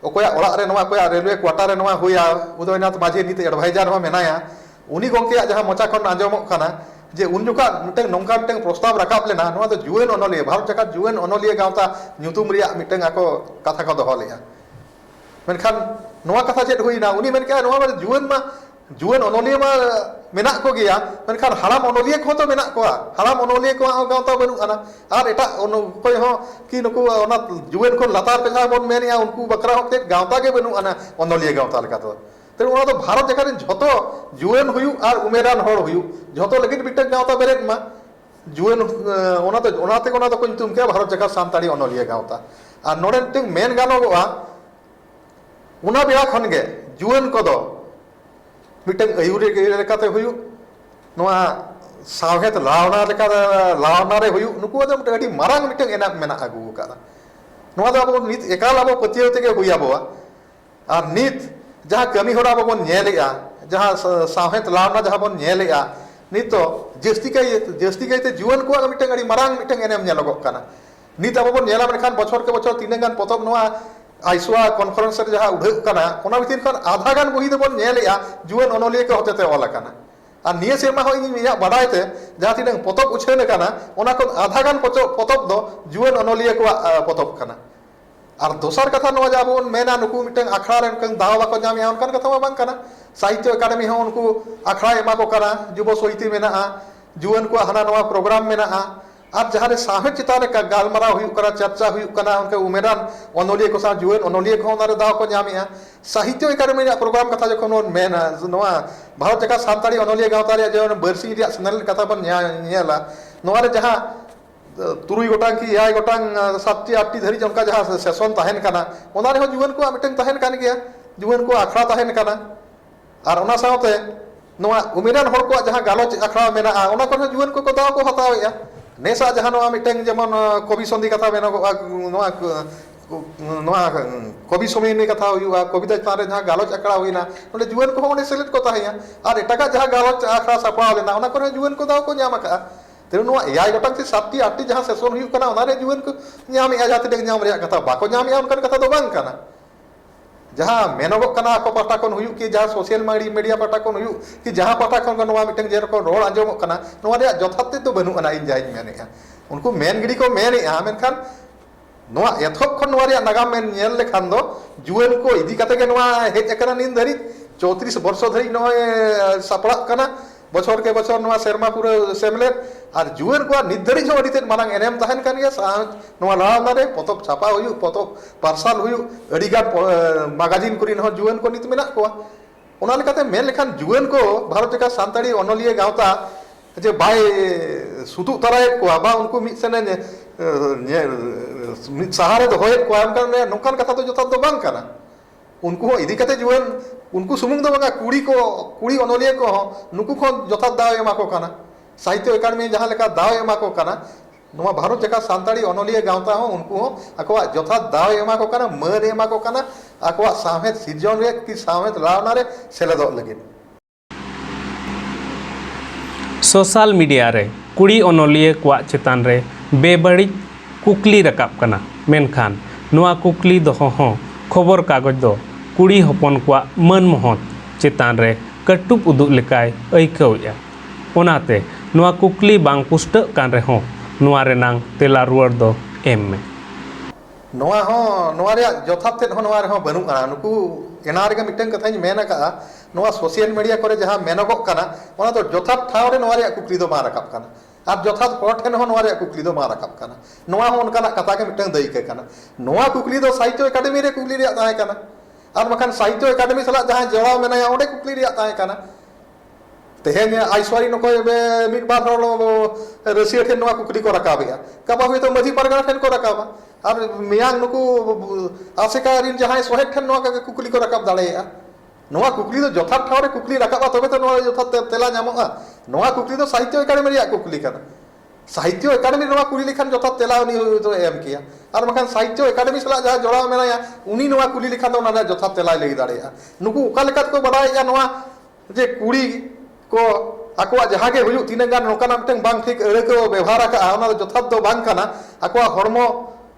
ᱚᱠᱚᱭᱟᱜ ᱚᱲᱟᱜ ᱨᱮ ᱱᱚᱣᱟ ᱚᱠᱚᱭᱟᱜ ᱨᱮᱞᱣᱮ ᱠᱣᱟᱴᱟᱨ ᱨᱮ ᱱᱚᱣᱟ ᱦᱩᱭᱟ ᱩᱫᱚᱭᱱᱟᱛᱷ ᱢᱟᱡᱷᱤ ᱱᱤᱛ ᱮᱰᱵᱷᱟᱭᱡᱟᱨ ᱦᱚᱸ ᱢᱮᱱᱟᱭᱟ ᱩᱱᱤ ᱜᱚᱝᱠᱮᱭᱟᱜ ᱡᱟᱦᱟᱸ ᱢᱚᱪᱟ ᱠᱷᱚᱱ ᱟᱸᱡᱚᱢᱚᱜ ᱠᱟᱱᱟ ᱡᱮ ᱩᱱ ᱡᱚᱠᱷᱟᱜ ᱢᱤᱫᱴᱟᱝ ᱱᱚᱝᱠᱟ ᱢᱤᱫᱴᱟᱝ ᱯᱨᱚᱥᱛᱟᱵ ᱨᱟᱠᱟᱵ ᱞᱮᱱᱟ ᱱᱚᱣᱟ ᱫᱚ ᱡᱩᱣᱟᱹᱱ ᱚᱱᱚᱞᱤᱭᱟᱹ ᱵᱷᱟᱨᱚᱛ ᱡᱟᱠᱟᱛ ᱡᱩᱣᱟᱹᱱ ᱚᱱᱚᱞᱤᱭᱟᱹ ᱜᱟᱶᱛᱟ ᱧᱩᱛᱩᱢ ᱨᱮᱭᱟᱜ ᱢᱤᱫᱴᱟᱝ ᱟᱠᱚ ᱠᱟᱛᱷᱟ ᱠᱚ ᱫᱚᱦᱚ ᱞᱮᱫᱼᱟ ᱢᱮᱱᱠᱷᱟᱱ ᱱᱚᱣᱟ ᱠᱟᱛᱷᱟ ᱪᱮᱫ ᱦᱩᱭ ᱮᱱᱟ ᱩᱱᱤ ᱢᱮᱱ ᱠᱮᱫᱼᱟ ᱱᱚᱣᱟ ᱢᱟ ᱡᱩᱣᱟᱹᱱ ᱢᱟ ᱡᱩᱣᱟᱹᱱ ᱚᱱᱚᱞᱤᱭᱟᱹ ᱢᱟ ᱢᱮᱱᱟᱜ ᱠᱚ ᱜᱮᱭᱟ ᱢᱮᱱᱠᱷᱟᱱ ᱦᱟᱲᱟᱢ ᱚᱱᱚᱞᱤᱭᱟᱹ ᱠᱚᱦᱚᱸ ᱛᱚ ᱢᱮᱱᱟᱜ ᱠᱚᱣᱟ ᱦᱟᱲᱟᱢ ᱚᱱᱚᱞᱤᱭᱟᱹ ᱠᱚᱣᱟᱜ ᱦᱚᱸ ᱜᱟᱶᱛᱟ ᱵᱟᱹᱱᱩᱜ ᱟᱱᱟ ᱟᱨ ᱮᱴᱟᱜ ᱚᱠᱚᱭ ᱦᱚᱸ ᱠᱤ ᱱᱩᱠᱩ ᱚᱱᱟ ᱡᱩᱣᱟᱹᱱ ᱠᱷᱚᱱ ᱞᱟᱛᱟᱨ ᱯᱮ ᱡᱟᱦᱟᱸ ᱵᱚᱱ ᱢᱮᱱᱮᱜᱼᱟ ᱩᱱᱠᱩ ᱵᱟᱠᱷᱨᱟ ᱦᱚᱸ ᱪᱮᱫ ᱜᱟᱶᱛᱟ ᱜᱮ ᱵᱟᱹᱱᱩᱜ ᱟᱱᱟ ᱚᱱᱚᱞᱤᱭᱟᱹ ᱜᱟᱶᱛᱟ ᱞᱮᱠᱟ ᱫᱚ ᱛᱮᱢᱚᱱ ᱚᱱᱟ ᱫᱚ ᱵᱷᱟᱨᱚᱛ ᱡᱟᱠᱟᱛ ᱨᱮᱱ ᱡᱷᱚᱛᱚ ᱡᱩᱣᱟᱹᱱ ᱦᱩᱭᱩᱜ ᱟᱨ ᱩᱢᱮᱨᱟᱱ ᱦᱚᱲ ᱦᱩᱭᱩᱜ ᱡᱷᱚᱛᱚ ᱞᱟᱹᱜᱤᱫ ᱢᱤᱫᱴᱟᱝ ᱜᱟᱶᱛᱟ ᱵᱮᱨᱮᱫ ᱢᱟ ᱡᱩᱣᱟᱹᱱ ᱚᱱᱟ ᱫᱚ ᱚᱱᱟ ᱛᱮᱜᱮ ᱚᱱᱟ ᱫᱚᱠᱚ ᱧᱩᱛᱩᱢ ᱠᱮᱜᱼᱟ ᱵᱷᱟᱨᱚᱛ ᱡᱟᱠᱟᱛ ᱥᱟᱱᱛᱟᱲᱤ ᱚᱱᱚᱞᱤᱭᱟᱹ ᱜᱟᱶᱛᱟ ᱟᱨ ᱱᱚᱰᱮ ᱢᱤᱫᱴᱟᱝ ᱢᱮᱱ ᱜᱟᱱᱚᱜᱚᱜᱼᱟ ᱚᱱᱟ ᱵᱮᱲᱟ ᱠᱷᱚᱱ ᱜᱮ ᱡᱩᱣᱟᱹᱱ ᱠᱚᱫᱚ ᱢᱤᱫᱴᱟᱝ ᱟᱹᱭᱩᱨᱤᱭᱟᱹ ᱞᱮᱠᱟᱛᱮ ᱦᱩᱭᱩᱜ ᱱᱚᱣᱟ ᱥᱟᱶᱦᱮᱫ ᱞᱟᱲᱟᱣᱱᱟ ᱞᱮᱠᱟ ᱞᱟᱲᱟᱣᱱᱟ ᱨᱮ ᱦᱩᱭᱩᱜ ᱱᱩᱠᱩᱣᱟᱜ ᱫᱚ ᱢᱤᱫᱴᱟᱝ ᱟᱹᱰᱤ ᱢᱟᱨᱟᱝ ᱢᱤᱫᱴᱟᱝ ᱮᱱᱮᱢ ᱢᱮᱱᱟᱜ ᱟᱹᱜᱩ ᱟᱠᱟᱫᱟ ᱱᱚᱣᱟ ᱫᱚ ᱟᱵᱚ ᱱᱤᱛ ᱮᱠᱟᱞ ᱟᱵᱚ ᱯᱟᱹᱛᱭᱟᱹᱣ ᱛᱮᱜᱮ ᱦᱩᱭ ᱟᱵᱚᱣᱟ ᱟᱨ ᱱᱤᱛ ᱡᱟᱦᱟᱸ ᱠᱟᱹᱢᱤ ᱦᱚᱨᱟ ᱟᱵᱚ ᱵᱚᱱ ᱧᱮᱞᱮᱜᱼᱟ ᱡᱟᱦᱟᱸ ᱥᱟᱶᱦᱮᱫ ᱞᱟᱲᱟᱣᱱᱟ ᱡᱟᱦᱟᱸ ᱵᱚᱱ ᱧᱮᱞᱮᱜᱼᱟ ᱱᱤᱛᱚᱜ ᱡᱟᱹᱥᱛᱤ ᱠᱟᱭ ᱡᱟᱹᱥᱛᱤ ᱠᱟᱭᱛᱮ ᱡᱩᱣᱟᱹᱱ ᱠᱚᱣᱟᱜ ᱢᱤᱫᱴᱟᱝ ᱟᱹᱰᱤ ᱢᱟᱨᱟᱝ ᱢᱤᱫᱴᱟᱝ ᱮᱱᱮᱢ ᱧᱮᱞᱚᱜᱚᱜ ᱠᱟᱱᱟ ᱱᱤᱛ ᱟᱵᱚ ᱵᱚᱱ ᱧᱮᱞᱟ ᱢᱮᱱᱠᱷᱟᱱ ᱵᱚᱪᱷᱚᱨ ᱠᱮ ᱵᱚᱪᱷᱚᱨ ᱛᱤᱱᱟᱹᱜ ᱜᱟᱱ ᱯᱚᱛᱚᱵ ᱱᱚᱣᱟ ᱟᱭᱥᱳᱣᱟ ᱠᱚᱱᱯᱷᱟᱨᱮᱱᱥ ᱨᱮ ᱡᱟᱦᱟᱸ ᱩᱰᱷᱟᱹᱜ ᱠᱟᱱᱟ ᱚᱱᱟ ᱵᱷᱤᱛᱤᱨ ᱠᱷᱚᱱ ᱟᱫᱷᱟ ᱜᱟᱱ ᱵᱩᱦᱤ ᱫᱚᱵᱚᱱ ᱧᱮᱞᱮᱜᱼᱟ ᱡᱩᱣᱟᱹᱱ ᱚᱱᱚᱞᱤᱭᱟᱹ ᱠᱚ ᱦᱚᱛᱮᱛᱮ ᱚᱞ ᱟᱠᱟᱱᱟ ᱟᱨ ᱱᱤᱭᱟᱹ ᱥᱮᱨᱢᱟ ᱦᱚᱸ ᱤᱧ ᱤᱧᱟᱹᱜ ᱵᱟᱰᱟᱭ ᱛᱮ ᱡᱟᱦᱟᱸ ᱛᱤᱱᱟᱹᱜ ᱯᱚᱛᱚᱵ ᱩᱪᱷᱟᱹᱱ ᱟᱠᱟᱱᱟ ᱚᱱᱟ ᱠᱷᱚᱱ ᱟᱫᱷᱟ ᱜᱟᱱ ᱯᱚᱛᱚᱵ ᱫᱚ ᱡᱩᱣᱟᱹᱱ ᱚᱱᱚᱞᱤᱭᱟᱹ ᱠᱚᱣᱟᱜ ᱯᱚᱛᱚᱵ ᱠᱟᱱᱟ ᱟᱨ ᱫᱚᱥᱟᱨ ᱠᱟᱛᱷᱟ ᱱᱚᱣᱟ ᱡᱟᱦᱟᱸ ᱵᱚᱱ ᱢᱮᱱᱟ ᱱᱩᱠᱩ ᱢᱤᱫᱴᱟᱝ ᱟᱠᱷᱲᱟ ᱨᱮ ᱢᱤᱫᱴᱟᱝ ᱫᱟᱣ ᱵᱟᱠᱚ ᱧᱟᱢᱮᱜᱼᱟ ᱚᱱᱠᱟᱱ ᱠᱟᱛᱷᱟ ᱢᱟ ᱵᱟᱝ ᱠᱟᱱᱟ ᱥᱟᱦᱤᱛᱭᱚ ᱮᱠᱟᱰᱮᱢᱤ ᱦᱚᱸ ᱩᱱᱠᱩ ᱟᱠᱷᱲᱟᱭ ᱮᱢᱟ ᱠᱚ ᱠᱟᱱᱟ ᱡᱩᱵᱚ ᱥᱚᱦᱤᱛᱤ ᱢᱮᱱᱟᱜᱼᱟ ᱡᱩᱣᱟᱹᱱ ᱠᱚᱣᱟᱜ ᱦᱟᱱᱟ ᱱᱚᱣᱟ ᱯᱨᱳᱜᱨᱟᱢ ᱢᱮᱱᱟᱜᱼᱟ ᱟᱨ ᱡᱟᱦᱟᱸ ᱨᱮ ᱥᱟᱶᱦᱮᱫ ᱪᱮᱛᱟᱱ ᱨᱮ ᱜᱟᱞᱢᱟᱨᱟᱣ ᱦᱩᱭᱩᱜ ᱠᱟᱱᱟ, ᱪᱟᱨᱪᱟ ᱦᱩᱭᱩᱜ ᱠᱟᱱᱟ, ᱚᱱᱠᱟ ᱩᱢᱮᱨᱟᱱ ᱚᱱᱚᱞᱤᱭᱟᱹ ᱠᱚ ᱥᱟᱶ ᱡᱩᱣᱟᱹᱱ ᱚᱱᱚᱞᱤᱭᱟᱹ ᱠᱚᱦᱚᱸ ᱚᱱᱟ ᱨᱮ ᱫᱟᱣ ᱠᱚ ᱧᱟᱢᱮᱜᱼᱟ᱾ ᱥᱟᱦᱤᱛᱭᱚ ᱮᱠᱟᱰᱮᱢᱤ ᱨᱮᱱᱟᱜ ᱯᱨᱚᱜᱨᱟᱢ ᱠᱟᱛᱷᱟ ᱡᱚᱠᱷᱚᱱ ᱵᱚᱱ ᱢᱮᱱᱟ, ᱱᱚᱣᱟ ᱵᱷᱟᱨᱚᱛ ᱡᱟᱠᱟᱛ ᱥᱟᱱᱛᱟᱲᱤ ᱚᱱᱚᱞᱤᱭᱟᱹ ᱜᱟᱶᱛᱟ ᱨᱮᱭᱟᱜ ᱡᱮᱢᱚᱱ ᱵᱟᱹᱨᱥᱤᱧ ᱨᱮᱭᱟᱜ ᱥᱮᱱᱮᱞᱮᱫ ᱠᱟᱛᱷᱟ ᱵᱚᱱ ᱧᱮᱞᱟ, ᱱᱚᱣᱟ ᱨᱮ ᱡᱟᱦᱟᱸ ᱛᱩᱨᱩᱭ ᱜᱚᱴᱟᱝ ᱠᱤ ᱮᱭᱟᱭ ᱜᱚᱴᱟᱝ ᱥᱟᱛᱴᱤ ᱟᱴᱴᱤ ᱫᱷᱟᱹᱨᱤᱡ ᱚᱱᱠᱟ ᱡᱟᱦᱟᱸ ᱥᱮᱥᱚᱱ ᱛᱟᱦᱮᱸᱱ ᱠᱟᱱᱟ, ᱚᱱᱟ ᱨᱮᱦᱚᱸ ᱡᱩᱣᱟᱹᱱ ᱠᱚᱣᱟᱜ ᱢᱤᱫᱴᱟᱹᱝ ᱛᱟᱦᱮᱸᱱ ᱠᱟᱱ ᱜᱮᱭᱟ, ᱡᱩᱣᱟᱹᱱ ᱠᱚᱣᱟᱜ ᱟᱠᱷᱲᱟ ᱛᱟᱦᱮᱸᱱ ᱠᱟᱱᱟ᱾ ᱟᱨ ᱚᱱᱟ ᱥᱟᱶᱛᱮ ᱱᱚᱣᱟ ᱩᱢᱮᱨᱟᱱ ᱦᱚᱲ ᱠᱚᱣᱟᱜ ᱡᱟᱦᱟᱸ ᱜᱟᱞᱚᱪ ᱟᱠᱷᱲᱟ ᱢᱮᱱᱟᱜᱼᱟ ᱚᱱᱟ ᱠᱚᱨᱮ ᱦᱚᱸ ᱡᱩᱣᱟᱹᱱ ᱠᱚᱠᱚ ᱫᱟᱣ ᱠᱚ ᱦᱟᱛᱟᱣᱮᱜᱼᱟ ᱱᱮᱥᱟᱜ ᱡᱟᱦᱟᱸ ᱱᱚᱣᱟ ᱢᱤᱫᱴᱟᱝ ᱡᱮᱢᱚᱱ ᱠᱚᱵᱤ ᱥᱚᱱᱫᱷᱤ ᱠᱟᱛᱷᱟ ᱢᱮᱱᱚᱜᱚᱜᱼᱟ ᱱᱚᱣᱟ ᱱᱚᱣᱟ ᱠᱚᱵᱤ ᱥᱚᱢᱢᱮᱞᱚᱱᱤ ᱠᱟᱛᱷᱟ ᱦᱩᱭᱩᱜᱼᱟ ᱠᱚᱵᱤᱛᱟ ᱪᱮᱛᱟᱱ ᱨᱮ ᱡᱟᱦᱟᱸ ᱜᱟᱞᱚᱪ ᱟᱠᱷᱲᱟ ᱦᱩᱭᱱᱟ ᱚᱸᱰᱮ ᱡᱩᱣᱟᱹᱱ ᱠᱚᱦᱚᱸ ᱚᱸᱰᱮ ᱥᱮᱞᱮᱫ ᱠᱚ ᱛᱟᱦᱮᱸᱭᱟ ᱟᱨ ᱮᱴᱟᱜᱟᱜ ᱡᱟᱦᱟᱸ ᱜᱟᱞᱚᱪ ᱟᱠᱷᱲᱟ ᱥᱟᱯᱲᱟᱣ ᱞᱮᱱᱟ ᱚᱱᱟ ᱠᱚᱨᱮ ᱦᱚᱸ ᱡᱩᱣᱟᱹᱱ ᱠᱚ ᱫᱟᱣ ᱠᱚ ᱧᱟᱢ ᱟᱠᱟᱫᱼᱟ ᱛᱮᱢᱚᱱ ᱱᱚᱣᱟ ᱮᱭᱟᱭ ᱜᱚᱴᱟᱝ ᱥᱮ ᱥᱟᱛᱴᱤ ᱟᱴᱴᱤ ᱡᱟᱦᱟᱸ ᱥᱮᱥᱚᱱ ᱦᱩᱭᱩᱜ ᱠᱟᱱᱟ ᱚᱱᱟ ᱨᱮ ᱡᱩᱣᱟᱹᱱ ᱠᱚ ᱧᱟᱢᱮᱜᱼᱟ ᱡᱟᱦᱟᱸ ᱛᱤᱱᱟᱹᱜ ᱧᱟᱢ ᱨᱮᱭᱟᱜ ᱠᱟᱛᱷᱟ ᱵᱟᱠᱚ ᱧᱟᱢᱮᱜᱼᱟ ᱚᱱᱠᱟᱱ ᱠᱟᱛᱷᱟ ᱫᱚ ᱵᱟᱝ ᱠᱟᱱᱟ ᱡᱟᱦᱟᱸ ᱢᱮᱱᱚᱜᱚᱜ ᱠᱟᱱᱟ ᱟᱠᱚ ᱯᱟᱦᱴᱟ ᱠᱷᱚᱱ ᱦᱩᱭᱩᱜ ᱠᱤ ᱡᱟᱦᱟᱸ ᱥᱳᱥᱟᱞ ᱢᱤᱰᱤᱭᱟ ᱯᱟᱦᱴᱟ ᱠᱷᱚᱱ ᱦᱩᱭᱩᱜ ᱠᱤ ᱡᱟᱦᱟᱸ ᱯᱟᱦᱴᱟ ᱠᱷᱚᱱ ᱜᱮ ᱱᱚᱣᱟ ᱢᱤᱫᱴᱟᱝ ᱡᱮ ᱨᱚᱠᱚᱢ ᱨᱚᱲ ᱟᱸᱡᱚᱢᱚᱜ ᱠᱟᱱᱟ ᱱᱚᱣᱟ ᱨᱮᱭᱟᱜ ᱡᱚᱛᱷᱟᱛ ᱛᱮᱫ ᱫᱚ ᱵᱟᱹᱱᱩᱜ ᱟᱱᱟ ᱤᱧ ᱡᱟᱦᱟᱸᱧ ᱢᱮᱱᱮᱫᱼᱟ ᱩᱱᱠᱩ ᱢᱮᱱ ᱜᱤᱰᱤ ᱠᱚ ᱢᱮᱱᱮᱫᱼᱟ ᱢᱮᱱᱠᱷᱟᱱ ᱱᱚᱣᱟ ᱮᱛᱚᱦᱚᱵ ᱠᱷᱚᱱ ᱱᱚᱣᱟ ᱨᱮᱭᱟᱜ ᱱᱟᱜᱟᱢ ᱮᱢ ᱧᱮᱞ ᱞᱮᱠᱷᱟᱱ ᱫᱚ ᱡᱩᱣᱟᱹᱱ ᱠᱚ ᱤᱫᱤ ᱠᱟᱛᱮ ᱜᱮ ᱱᱚᱣᱟ ᱦᱮᱡ ᱟᱠᱟᱱᱟ ᱱᱤᱛ ᱫᱷᱟᱹᱨᱤᱡ ᱪᱳᱭᱛᱨᱤᱥ ᱵᱚᱨᱥᱚ ᱫᱷᱟᱹᱨᱤᱡ ᱱᱚᱜᱼᱚᱭ ᱥᱟᱯᱲᱟᱜ ᱠᱟᱱᱟ ᱵᱚᱪᱷᱚᱨ ᱠᱮ ᱵᱚᱪᱷᱚᱨ ᱱᱚᱣᱟ ᱥᱮᱨᱢᱟ ᱯᱩᱨᱟᱹᱣ ᱥᱮᱢᱞᱮᱫ ᱟᱨ ᱡᱩᱣᱟᱹᱱ ᱠᱚᱣᱟᱜ ᱱᱤᱛ ᱫᱷᱟᱹᱨᱤᱡ ᱦᱚᱸ ᱟᱹᱰᱤ ᱛᱮᱫ ᱢᱟᱨᱟᱝ ᱮᱱᱮᱢ ᱛᱟᱦᱮᱱ ᱠᱟᱱ ᱜᱮᱭᱟ ᱥᱟᱶ ᱱᱚᱣᱟ ᱞᱟᱲᱟᱣᱱᱟ ᱨᱮ ᱯᱚᱛᱚᱵ ᱪᱷᱟᱯᱟ ᱦᱩᱭᱩᱜ ᱯᱚᱛᱚᱵ ᱯᱟᱨᱥᱟᱞ ᱦᱩᱭᱩᱜ ᱟᱹᱰᱤ ᱜᱟᱱ ᱢᱟᱜᱟᱡᱤᱱ ᱠᱚᱨᱮᱱ ᱦᱚᱸ ᱡᱩᱣᱟᱹᱱ ᱠᱚ ᱱᱤᱛ ᱢᱮᱱᱟᱜ ᱠᱚᱣᱟ ᱚᱱᱟ ᱞᱮᱠᱟᱛᱮ ᱢᱮᱱ ᱞᱮᱠᱷᱟᱱ ᱡᱩᱣᱟᱹᱱ ᱠᱚ ᱵᱷᱟᱨᱚᱛ ᱡᱟᱠᱟᱛ ᱥᱟᱱᱛᱟᱲᱤ ᱚᱱᱚᱞᱤᱭᱟᱹ ᱜᱟᱶᱛᱟ ᱡᱮ ᱵᱟᱭ ᱥᱩᱛᱩᱜ ᱛᱟᱨᱟᱭᱮᱫ ᱠᱚᱣᱟ ᱵᱟ ᱩᱱᱠᱩ ᱢᱤᱫ ᱥᱮᱱᱮ ᱢᱤᱫ ᱥᱟᱦᱟᱨᱮ ᱫᱚᱦᱚᱭᱮᱫ ᱠᱚᱣᱟ ᱚᱱᱠᱟᱱ ᱱᱚᱝᱠᱟᱱ ᱠᱟᱛᱷᱟ ᱫᱚ ᱡᱚᱛᱷᱟᱛ ᱫᱚ ᱵᱟᱝ ᱠᱟᱱᱟ ᱩᱱᱠᱩ ᱦᱚᱸ ᱤᱫᱤ ᱠᱟᱛᱮ ᱡᱩᱣᱟᱹᱱ ᱩᱱᱠᱩ ᱥᱩᱢᱩᱝ ᱫᱚ ᱵᱟᱝᱟ ᱠᱩᱲᱤ ᱠᱚ ᱠᱩᱲᱤ ᱚᱱᱚᱞᱤᱭᱟᱹ ᱠᱚᱦᱚᱸ ᱱᱩᱠᱩ ᱠᱚᱦᱚᱸ ᱡᱚᱛᱷᱟᱛ ᱫᱟᱣᱮ ᱮᱢᱟ ᱠᱚ ᱠᱟᱱᱟ ᱥᱟᱦᱤᱛᱛᱚ ᱮᱠᱟᱰᱮᱢᱤ ᱡᱟᱦᱟᱸ ᱞᱮᱠᱟ ᱫᱟᱣᱮ ᱮᱢᱟ ᱠᱚ ᱠᱟᱱᱟ ᱱᱚᱣᱟ ᱵᱷᱟᱨᱚᱛ ᱡᱟᱠᱟᱛ ᱥᱟᱱᱛᱟᱲᱤ ᱚᱱᱚᱞᱤᱭᱟᱹ ᱜᱟᱶᱛᱟ ᱦᱚᱸ ᱩᱱᱠᱩ ᱦᱚᱸ ᱟᱠᱚᱣᱟᱜ ᱡᱚᱛᱷᱟᱛ ᱫᱟᱣᱮ ᱮᱢᱟ ᱠᱚ ᱠᱟᱱᱟ ᱢᱟᱹᱱᱮ ᱮᱢᱟ ᱠᱚ ᱠᱟᱱᱟ ᱟᱠᱚᱣᱟᱜ ᱥᱟᱶᱦᱮᱫ ᱥᱤᱨᱡᱚᱱ ᱨᱮ ᱠᱤ ᱥᱟᱶᱦᱮᱫ ᱞᱟᱲᱟᱣᱱᱟ ᱨᱮ ᱥᱮᱞᱮᱫᱚᱜ ᱞᱟᱹᱜᱤᱫ ᱥᱳᱥᱟᱞ ᱢᱤᱰᱤᱭᱟ ᱨᱮ ᱠᱩᱲᱤ ᱚᱱᱚᱞᱤᱭᱟᱹ ᱠᱚᱣᱟᱜ ᱪᱮᱛᱟᱱ ᱨᱮ ᱵᱮᱵᱟᱹᱲᱤᱡ ᱠᱩᱠᱞᱤ ᱨᱟᱠᱟᱵ ᱠᱟᱱᱟ ᱢᱮᱱᱠᱷᱟᱱ ᱱᱚᱣᱟ ᱠᱩᱠᱞᱤ ᱫᱚᱦᱚ ᱦᱚᱸ ᱠᱷᱚᱵᱚᱨ ᱠᱟᱜᱚᱡᱽ ᱫᱚ ᱠᱩᱲᱤ ᱦᱚᱯᱚᱱ ᱠᱚᱣᱟᱜ ᱢᱟᱹᱱ ᱢᱚᱦᱚᱛ ᱪᱮᱛᱟᱱ ᱨᱮ ᱠᱟᱹᱴᱩᱵ ᱩᱫᱩᱜ ᱞᱮᱠᱟᱭ ᱟᱹᱭᱠᱟᱹᱣᱮᱫᱼᱟ᱾ ᱚᱱᱟᱛᱮ ᱱᱚᱣᱟ ᱠᱩᱠᱞᱤ ᱵᱟᱝ ᱯᱩᱥᱴᱟᱹᱜ ᱠᱟᱱ ᱨᱮᱦᱚᱸ ᱱᱚᱣᱟ ᱨᱮᱱᱟᱝ ᱛᱮᱞᱟ ᱨᱩᱣᱟᱹᱲ ᱫᱚ ᱮᱢ ᱢᱮ᱾ ᱱᱚᱣᱟ ᱦᱚᱸ ᱱᱚᱣᱟ ᱨᱮᱭᱟᱜ ᱡᱚᱛᱷᱟᱛ ᱛᱮᱫ ᱦᱚᱸ ᱱᱚᱣᱟ ᱨᱮᱦᱚᱸ ᱵᱟᱹᱱᱩᱜᱼᱟ᱾ ᱱᱩᱠᱩ ᱮᱱᱟᱝ ᱨᱮᱜᱮ ᱢᱤᱫᱴᱟᱹᱝ ᱠᱟᱛᱷᱟᱧ ᱢᱮᱱ ᱟᱠᱟᱫᱼᱟ ᱱᱚᱣᱟ ᱥᱳᱥᱤᱭᱟᱞ ᱢᱤᱰᱤᱭᱟ ᱠᱚᱨᱮ ᱡᱟᱦᱟᱸ ᱢᱮᱱᱚᱜᱚᱜ ᱠᱟᱱᱟ ᱚᱱᱟ ᱫᱚ ᱡᱚᱛᱷᱟᱛ ᱴᱷᱟᱶ ᱨᱮ ᱱᱚᱣᱟ ᱨᱮᱭᱟᱜ ᱠᱩᱠᱞᱤ ᱫᱚ ᱵᱟᱝ ᱨᱟᱠᱟᱵ ᱠᱟᱱᱟ ᱟᱨ ᱡᱚᱛᱷᱟᱛ ᱦᱚᱲ ᱴᱷᱮᱱ ᱦᱚᱸ ᱱᱚᱣᱟ ᱨᱮᱭᱟᱜ ᱠᱩᱠᱞᱤ ᱫᱚ ᱵᱟᱝ ᱨᱟᱠᱟᱵ ᱠᱟᱱᱟ᱾ ᱱᱚᱣᱟ ᱦᱚᱸ ᱚᱱᱠᱟᱱᱟᱜ ᱠᱟᱛᱷᱟ ᱜᱮ ᱢᱤᱫᱴᱟᱹᱝ ᱫᱟᱹᱭᱠᱟᱹ ᱠᱟᱱᱟ᱾ ᱱᱚᱣᱟ ᱠᱩᱠᱞᱤ ᱫᱚ ᱥᱟᱦᱤᱛᱭᱚ ᱮᱠᱟᱰᱮᱢᱤ ᱨᱮ ᱠᱩᱠᱞᱤ ᱨᱮᱭᱟᱜ ᱛᱟᱦᱮᱸ ᱠᱟᱱᱟ ᱟᱨ ᱵᱟᱠᱷᱟᱱ ᱥᱟᱦᱤᱛᱭᱚ ᱮᱠᱟᱰᱮᱢᱤ ᱥᱟᱞᱟᱜ ᱡᱟᱦᱟᱸᱭ ᱡᱚᱲᱟᱣ ᱢᱮᱱᱟᱭᱟ ᱚᱸᱰᱮ ᱠᱩᱠᱞᱤ ᱨᱮᱭᱟᱜ ᱛᱟᱦᱮᱸ ᱠᱟᱱᱟ᱾ ᱛᱮᱦᱮᱧ ᱟᱭᱥᱣᱟᱨᱤ ᱱᱚᱠᱚᱭ ᱢᱤᱫ ᱵᱟᱨ ᱦᱚᱲ ᱨᱟᱹᱥᱤᱭᱟᱹ ᱴᱷᱮᱱ ᱱᱚᱣᱟ ᱠᱩᱠᱞᱤ ᱠᱚ ᱨᱟᱠᱟᱵᱮᱜᱼᱟ, ᱜᱟᱯᱟ ᱦᱚᱭᱛᱚ ᱢᱟᱹᱡᱷᱤ ᱯᱟᱨᱜᱟᱱᱟ ᱴᱷᱮᱱ ᱠᱚ ᱨᱟᱠᱟᱵᱟ ᱟᱨ ᱢᱮᱭᱟᱝ ᱱᱩᱠᱩ ᱟᱥᱮᱠᱟ ᱨᱤᱱ ᱡᱟᱦᱟᱸᱭ ᱥᱚᱦᱮᱫ ᱴᱷᱮᱱ ᱱᱚᱣᱟ ᱠᱩᱠᱞᱤ ᱠᱚ ᱨᱟᱠᱟᱵ ᱫᱟᱲᱮᱭᱟᱜᱼᱟ᱾ ᱱᱚᱣᱟ ᱠᱩᱠᱞᱤ ᱫᱚ ᱡᱚᱛᱷᱟᱛ ᱴᱷᱟᱶ ᱨᱮ ᱠᱩᱠᱞᱤ ᱨᱟᱠᱟᱵᱼᱟ ᱛᱚᱵᱮ ᱛᱚ ᱱᱚᱣᱟ ᱨᱮ ᱡᱚᱛᱷᱟᱛ ᱛᱮᱞᱟ ᱧᱟᱢᱚᱜᱼᱟ᱾ ᱱᱚᱣᱟ ᱠᱩᱠᱞᱤ ᱫᱚ ᱥᱟᱦᱤᱛᱭᱚ ᱮᱠᱟᱰᱮᱢᱤ ᱨᱮᱭᱟᱜ ᱠᱩᱠᱞᱤ ᱠᱟᱱᱟ᱾ ᱥᱟᱦᱤᱛᱭᱚ ᱮᱠᱟᱰᱮᱢᱤ ᱱᱚᱣᱟ ᱠᱩᱞᱤ ᱞᱮᱠᱷᱟᱱ ᱡᱚᱛᱷᱟᱛ ᱛᱮᱞᱟ ᱩᱱᱤ ᱦᱚᱭ ᱛᱚ ᱮᱢ ᱠᱮᱭᱟ᱾ ᱟᱨ ᱵᱟᱝᱠᱷᱟᱱ ᱥᱟᱦᱤᱛᱭᱚ ᱮᱠᱟᱰᱮᱢᱤ ᱥᱟᱞᱟᱜ ᱡᱟᱦᱟᱸᱭ ᱡᱚᱲᱟᱣ ᱢᱮᱱᱟᱭᱟ ᱩᱱᱤ ᱱᱚᱣᱟ ᱠᱩᱞᱤ ᱞᱮᱠᱷᱟᱱ ᱫᱚ ᱚᱱᱟ ᱨᱮᱭᱟᱜ ᱡᱚᱛᱷᱟᱛ ᱛᱮᱞᱟᱭ ᱞᱟᱹᱭ ᱫᱟᱲᱮᱭᱟᱜᱼᱟ᱾ ᱱᱩᱠᱩ ᱚᱠᱟ ᱞᱮᱠᱟ ᱛᱮᱠᱚ ᱵᱟᱰᱟᱭᱮᱫᱼᱟ ᱱᱚᱣᱟ ᱡᱮ ᱠᱩᱲᱤ ᱠᱚ ᱟᱠᱚᱣᱟᱜ ᱡᱟᱦᱟᱸ ᱜᱮ ᱦᱩᱭᱩᱜ ᱛᱤᱱᱟᱹᱜ ᱜᱟᱱ ᱱᱚᱝᱠᱟᱱᱟᱜ ᱢᱤᱫᱴᱟᱝ ᱵᱟᱝ ᱴᱷᱤᱠ ᱟᱹᱲᱟᱹ ᱠᱚ ᱵᱮᱵᱷᱟᱨ ᱟᱠᱟᱫᱼᱟ ᱚᱱᱟ ᱫᱚ ᱡᱚᱛᱷᱟᱛ ᱫᱚ ᱵᱟᱝ ᱠᱟᱱᱟ ᱟᱠᱚᱣᱟᱜ ᱦᱚᱲᱢᱚ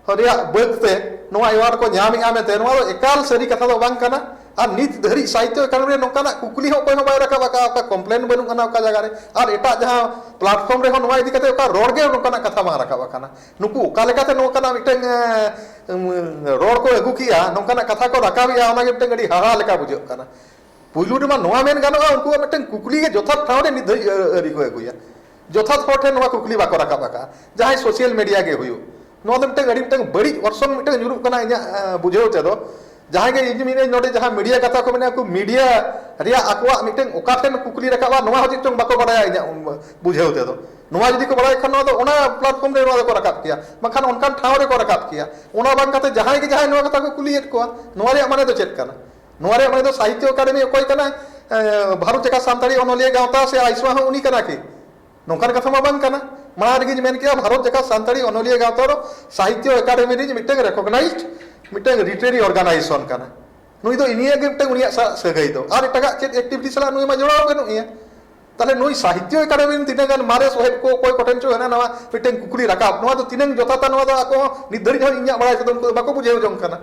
ᱨᱮᱭᱟᱜ ᱵᱟᱹᱫᱽ ᱛᱮ ᱱᱚᱣᱟ ᱮᱣᱟᱨᱰ ᱠᱚ ᱧᱟᱢᱮᱫᱼᱟ ᱢᱮᱱᱛᱮ ᱱᱚᱣᱟ ᱫᱚ ᱮᱠᱟᱞ ᱥᱟᱹᱨᱤ ᱠᱟᱛᱷᱟ ᱫᱚ ᱵᱟᱝ ᱠᱟᱱᱟ ᱟᱨ ᱱᱤᱛ ᱫᱷᱟᱹᱨᱤᱡ ᱥᱟᱦᱤᱛᱛᱚ ᱮᱠᱟᱰᱮᱢᱤ ᱨᱮ ᱱᱚᱝᱠᱟᱱᱟᱜ ᱠᱩᱠᱞᱤ ᱦᱚᱸ ᱚᱠᱚᱭ ᱦᱚᱸ ᱵᱟᱭ ᱨᱟᱠᱟᱵ ᱟᱠᱟᱫᱼᱟ ᱚᱠᱟ ᱠᱚᱢᱯᱞᱮᱱ ᱵᱟᱹᱱᱩᱜ ᱟᱱᱟ ᱚᱠᱟ ᱡᱟᱭᱜᱟ ᱨᱮ ᱟᱨ ᱮᱴᱟᱜ ᱡᱟᱦᱟᱸ ᱯᱞᱟᱴᱯᱷᱚᱨᱢ ᱨᱮᱦᱚᱸ ᱱᱚᱣᱟ ᱤᱫᱤ ᱠᱟᱛᱮ ᱚᱠᱟ ᱨᱚᱲ ᱜᱮ ᱱᱚᱝᱠᱟᱱᱟᱜ ᱠᱟᱛᱷᱟ ᱵᱟᱝ ᱨᱟᱠᱟᱵ ᱟᱠᱟᱱᱟ ᱱᱩᱠᱩ ᱚᱠᱟ ᱞᱮᱠᱟᱛᱮ ᱱᱚᱝᱠᱟᱱᱟᱜ ᱢᱤᱫᱴᱟᱝ ᱨᱚᱲ ᱠᱚ ᱟᱹᱜᱩ ᱠᱮᱫᱼᱟ ᱱᱚᱝᱠᱟᱱᱟᱜ ᱠᱟᱛᱷᱟ ᱠᱚ ᱨᱟᱠᱟᱵᱮᱫᱼᱟ ᱚᱱᱟᱜᱮ ᱢᱤᱫᱴᱟᱝ ᱟᱹᱰᱤ ᱦᱟᱦᱟᱲᱟ ᱞᱮᱠᱟ ᱵᱩᱡᱷᱟᱹᱜ ᱠᱟᱱᱟ ᱯᱩᱭᱞᱩ ᱨᱮᱢᱟ ᱱᱚᱣᱟ ᱢᱮᱱ ᱜᱟᱱᱚᱜᱼᱟ ᱩᱱᱠᱩᱣᱟᱜ ᱢᱤᱫᱴᱟᱝ ᱠᱩᱠᱞᱤ ᱜᱮ ᱡᱚᱛᱷᱟᱛ ᱴᱷᱟᱶ ᱨᱮ ᱱᱤᱛ ᱫᱷᱟᱹᱵᱤᱡ ᱟᱹᱣᱨᱤ ᱠᱚ ᱟᱹᱜᱩᱭᱟ ᱡᱚᱛᱷᱟᱛ ᱦᱚᱲ ᱴᱷᱮᱱ ᱱᱚᱣᱟ ᱠᱩᱠᱞᱤ ᱵᱟᱠᱚ ᱨᱟᱠᱟᱵ ᱟᱠᱟᱫᱼᱟ ᱡᱟᱦᱟᱸᱭ ᱥᱳᱥᱤᱭᱟᱞ ᱢᱤᱰᱤᱭᱟ ᱜᱮ ᱦᱩᱭᱩᱜ ᱱᱚᱣᱟ ᱫᱚ ᱢᱤᱫᱴᱟᱝ ᱟᱹᱰᱤ ᱢᱤᱫᱴᱟᱝ ᱵᱟᱹᱲᱤᱡ ᱚᱨᱥᱚᱝ ᱢᱤᱫᱴᱟᱝ ᱧᱩᱨᱩᱜ ᱠᱟᱱᱟ ᱤᱧᱟᱹᱜ ᱵᱩᱡᱷᱟᱹᱣ ᱛᱮᱫᱚ ᱡᱟᱦᱟᱸᱭ ᱜᱮ ᱤᱧ ᱢᱮᱱᱟᱹᱧ ᱱᱚᱰᱮ ᱡᱟᱦᱟᱸ ᱢᱤᱰᱤᱭᱟ ᱠᱟᱛᱷᱟ ᱠᱚ ᱢᱮᱱᱟ ᱩᱱᱠᱩ ᱢᱤᱰᱤᱭᱟ ᱨᱮᱭᱟᱜ ᱟᱠᱚᱣᱟᱜ ᱢᱤᱫᱴᱟᱝ ᱚᱠᱟ ᱴᱷᱮᱱ ᱠᱩᱠᱞᱤ ᱨᱟᱠᱟᱵᱼᱟ ᱱᱚᱣᱟ ᱦᱚᱸ ᱪᱮᱫ ᱪᱚᱝ ᱵᱟᱠᱚ ᱵᱟᱲᱟᱭᱟ ᱤᱧᱟᱹᱜ ᱵᱩᱡᱷᱟᱹᱣ ᱛᱮᱫᱚ ᱱᱚᱣᱟ ᱡᱩᱫᱤ ᱠᱚ ᱵᱟᱲᱟᱭ ᱠᱷᱟᱱ ᱱᱚᱣᱟ ᱫᱚ ᱚᱱᱟ ᱯᱞᱟᱴᱯᱷᱚᱨᱢ ᱨᱮ ᱱᱚᱣᱟ ᱫᱚᱠᱚ ᱨᱟᱠᱟᱵ ᱠᱮᱭᱟ ᱵᱟᱝᱠᱷᱟᱱ ᱚᱱᱠᱟᱱ ᱴᱷᱟᱶ ᱨᱮᱠᱚ ᱨᱟᱠᱟᱵ ᱠᱮᱭᱟ ᱚᱱᱟ ᱵᱟᱝ ᱠᱟᱛᱮ ᱡᱟᱦᱟᱸᱭ ᱜᱮ ᱡᱟᱦᱟᱸᱭ ᱱᱚᱣᱟ ᱠᱟᱛᱷᱟ ᱠᱚ ᱠᱩᱞᱤᱭᱮᱫ ᱠᱚᱣᱟ ᱱᱚᱣᱟ ᱨᱮᱭᱟᱜ ᱢᱟᱱᱮ ᱫᱚ ᱪᱮᱫ ᱠᱟᱱᱟ ᱱᱚᱣᱟ ᱨᱮᱭᱟᱜ ᱢᱟᱱᱮ ᱫᱚ ᱥᱟᱦᱤᱛᱭᱚ ᱟᱠᱟᱫᱮᱢᱤ ᱚᱠᱚᱭ ᱠᱟᱱᱟᱭ ᱵᱷᱟᱨᱚᱛ ᱡᱟᱠᱟᱛ ᱥᱟᱱᱛᱟᱲᱤ ᱚᱱᱚᱞᱤᱭᱟᱹ ᱜᱟᱶᱛᱟ ᱥᱮ ᱟᱭᱥᱢᱟ ᱦᱚᱸ ᱩᱱᱤ ᱠᱟᱱᱟ ᱠᱤ ᱱᱚᱝᱠᱟᱱ ᱠᱟᱛᱷᱟ ᱢᱟ ᱵᱟᱝ ᱠᱟᱱᱟ ᱢᱟᱲᱟᱝ ᱨᱮᱜᱮᱧ ᱢᱮᱱ ᱠᱮᱜᱼᱟ ᱵᱷᱟᱨᱚᱛ ᱡᱟᱠᱟᱛ ᱥᱟᱱᱛᱟᱲᱤ ᱚᱱᱚᱞᱤᱭᱟᱹ ᱜᱟᱶᱛᱟ ᱫᱚ ᱥᱟᱦᱤᱛᱭᱚ ᱟᱠᱟᱫᱮᱢᱤ ᱨᱤᱱᱤᱡ ᱢᱤᱫᱴᱟᱝ ᱨᱮᱠᱚᱜᱱᱟᱭᱤᱡᱽᱰ ᱢᱤᱫᱴᱟᱝ ᱞᱤᱴᱨᱮᱨᱤ ᱚᱨᱜᱟᱱᱟᱭᱡᱮᱥᱚᱱ ᱠᱟᱱᱟ ᱱᱩᱭ ᱫᱚ ᱤᱱᱤᱭᱟᱹ ᱜᱮ ᱢᱤᱫᱴᱟᱝ ᱩᱱᱤᱭᱟᱜ ᱥᱟᱜ ᱥᱟᱹᱜᱟᱹᱭ ᱫᱚ ᱟᱨ ᱮᱴᱟᱜᱟᱜ ᱪᱮᱫ ᱮᱠᱴᱤᱵᱷᱤᱴᱤ ᱥᱟᱞᱟᱜ ᱱᱩᱭ ᱢᱟ ᱡᱚᱲᱟᱣ ᱵᱟᱹᱱᱩᱜ ᱮᱭᱟ ᱛᱟᱦᱞᱮ ᱱᱩᱭ ᱥᱟᱦᱤᱛᱭᱚ ᱟᱠᱟᱫᱮᱢᱤ ᱨᱤᱱ ᱛᱤᱱᱟᱹᱜ ᱜᱟᱱ ᱢᱟᱨᱮ ᱥᱚᱦᱮᱫ ᱠᱚ ᱚᱠᱚᱭ ᱠᱚᱴᱷᱮᱱ ᱪᱚ ᱦᱟᱱᱟ ᱱᱟᱣᱟ ᱢᱤᱫᱴᱟᱝ ᱠᱩᱠᱞᱤ ᱨᱟᱠᱟᱵ ᱱᱚᱣᱟ ᱫᱚ ᱛᱤᱱᱟᱹᱝ ᱡᱚᱛᱷᱟᱛᱟ ᱱᱚᱣᱟ ᱫᱚ ᱟᱠᱚ ᱦᱚᱸ ᱱᱤᱛ ᱫᱷᱟᱹᱨᱤᱡ ᱦᱚᱸ ᱤᱧᱟᱹᱜ ᱵᱟᱲᱟᱭ ᱛᱮᱫᱚ ᱩᱱᱠᱩ ᱫᱚ ᱵᱟᱠᱚ ᱵᱩᱡᱷᱟᱹᱣ ᱡᱚᱝ ᱠᱟᱱᱟ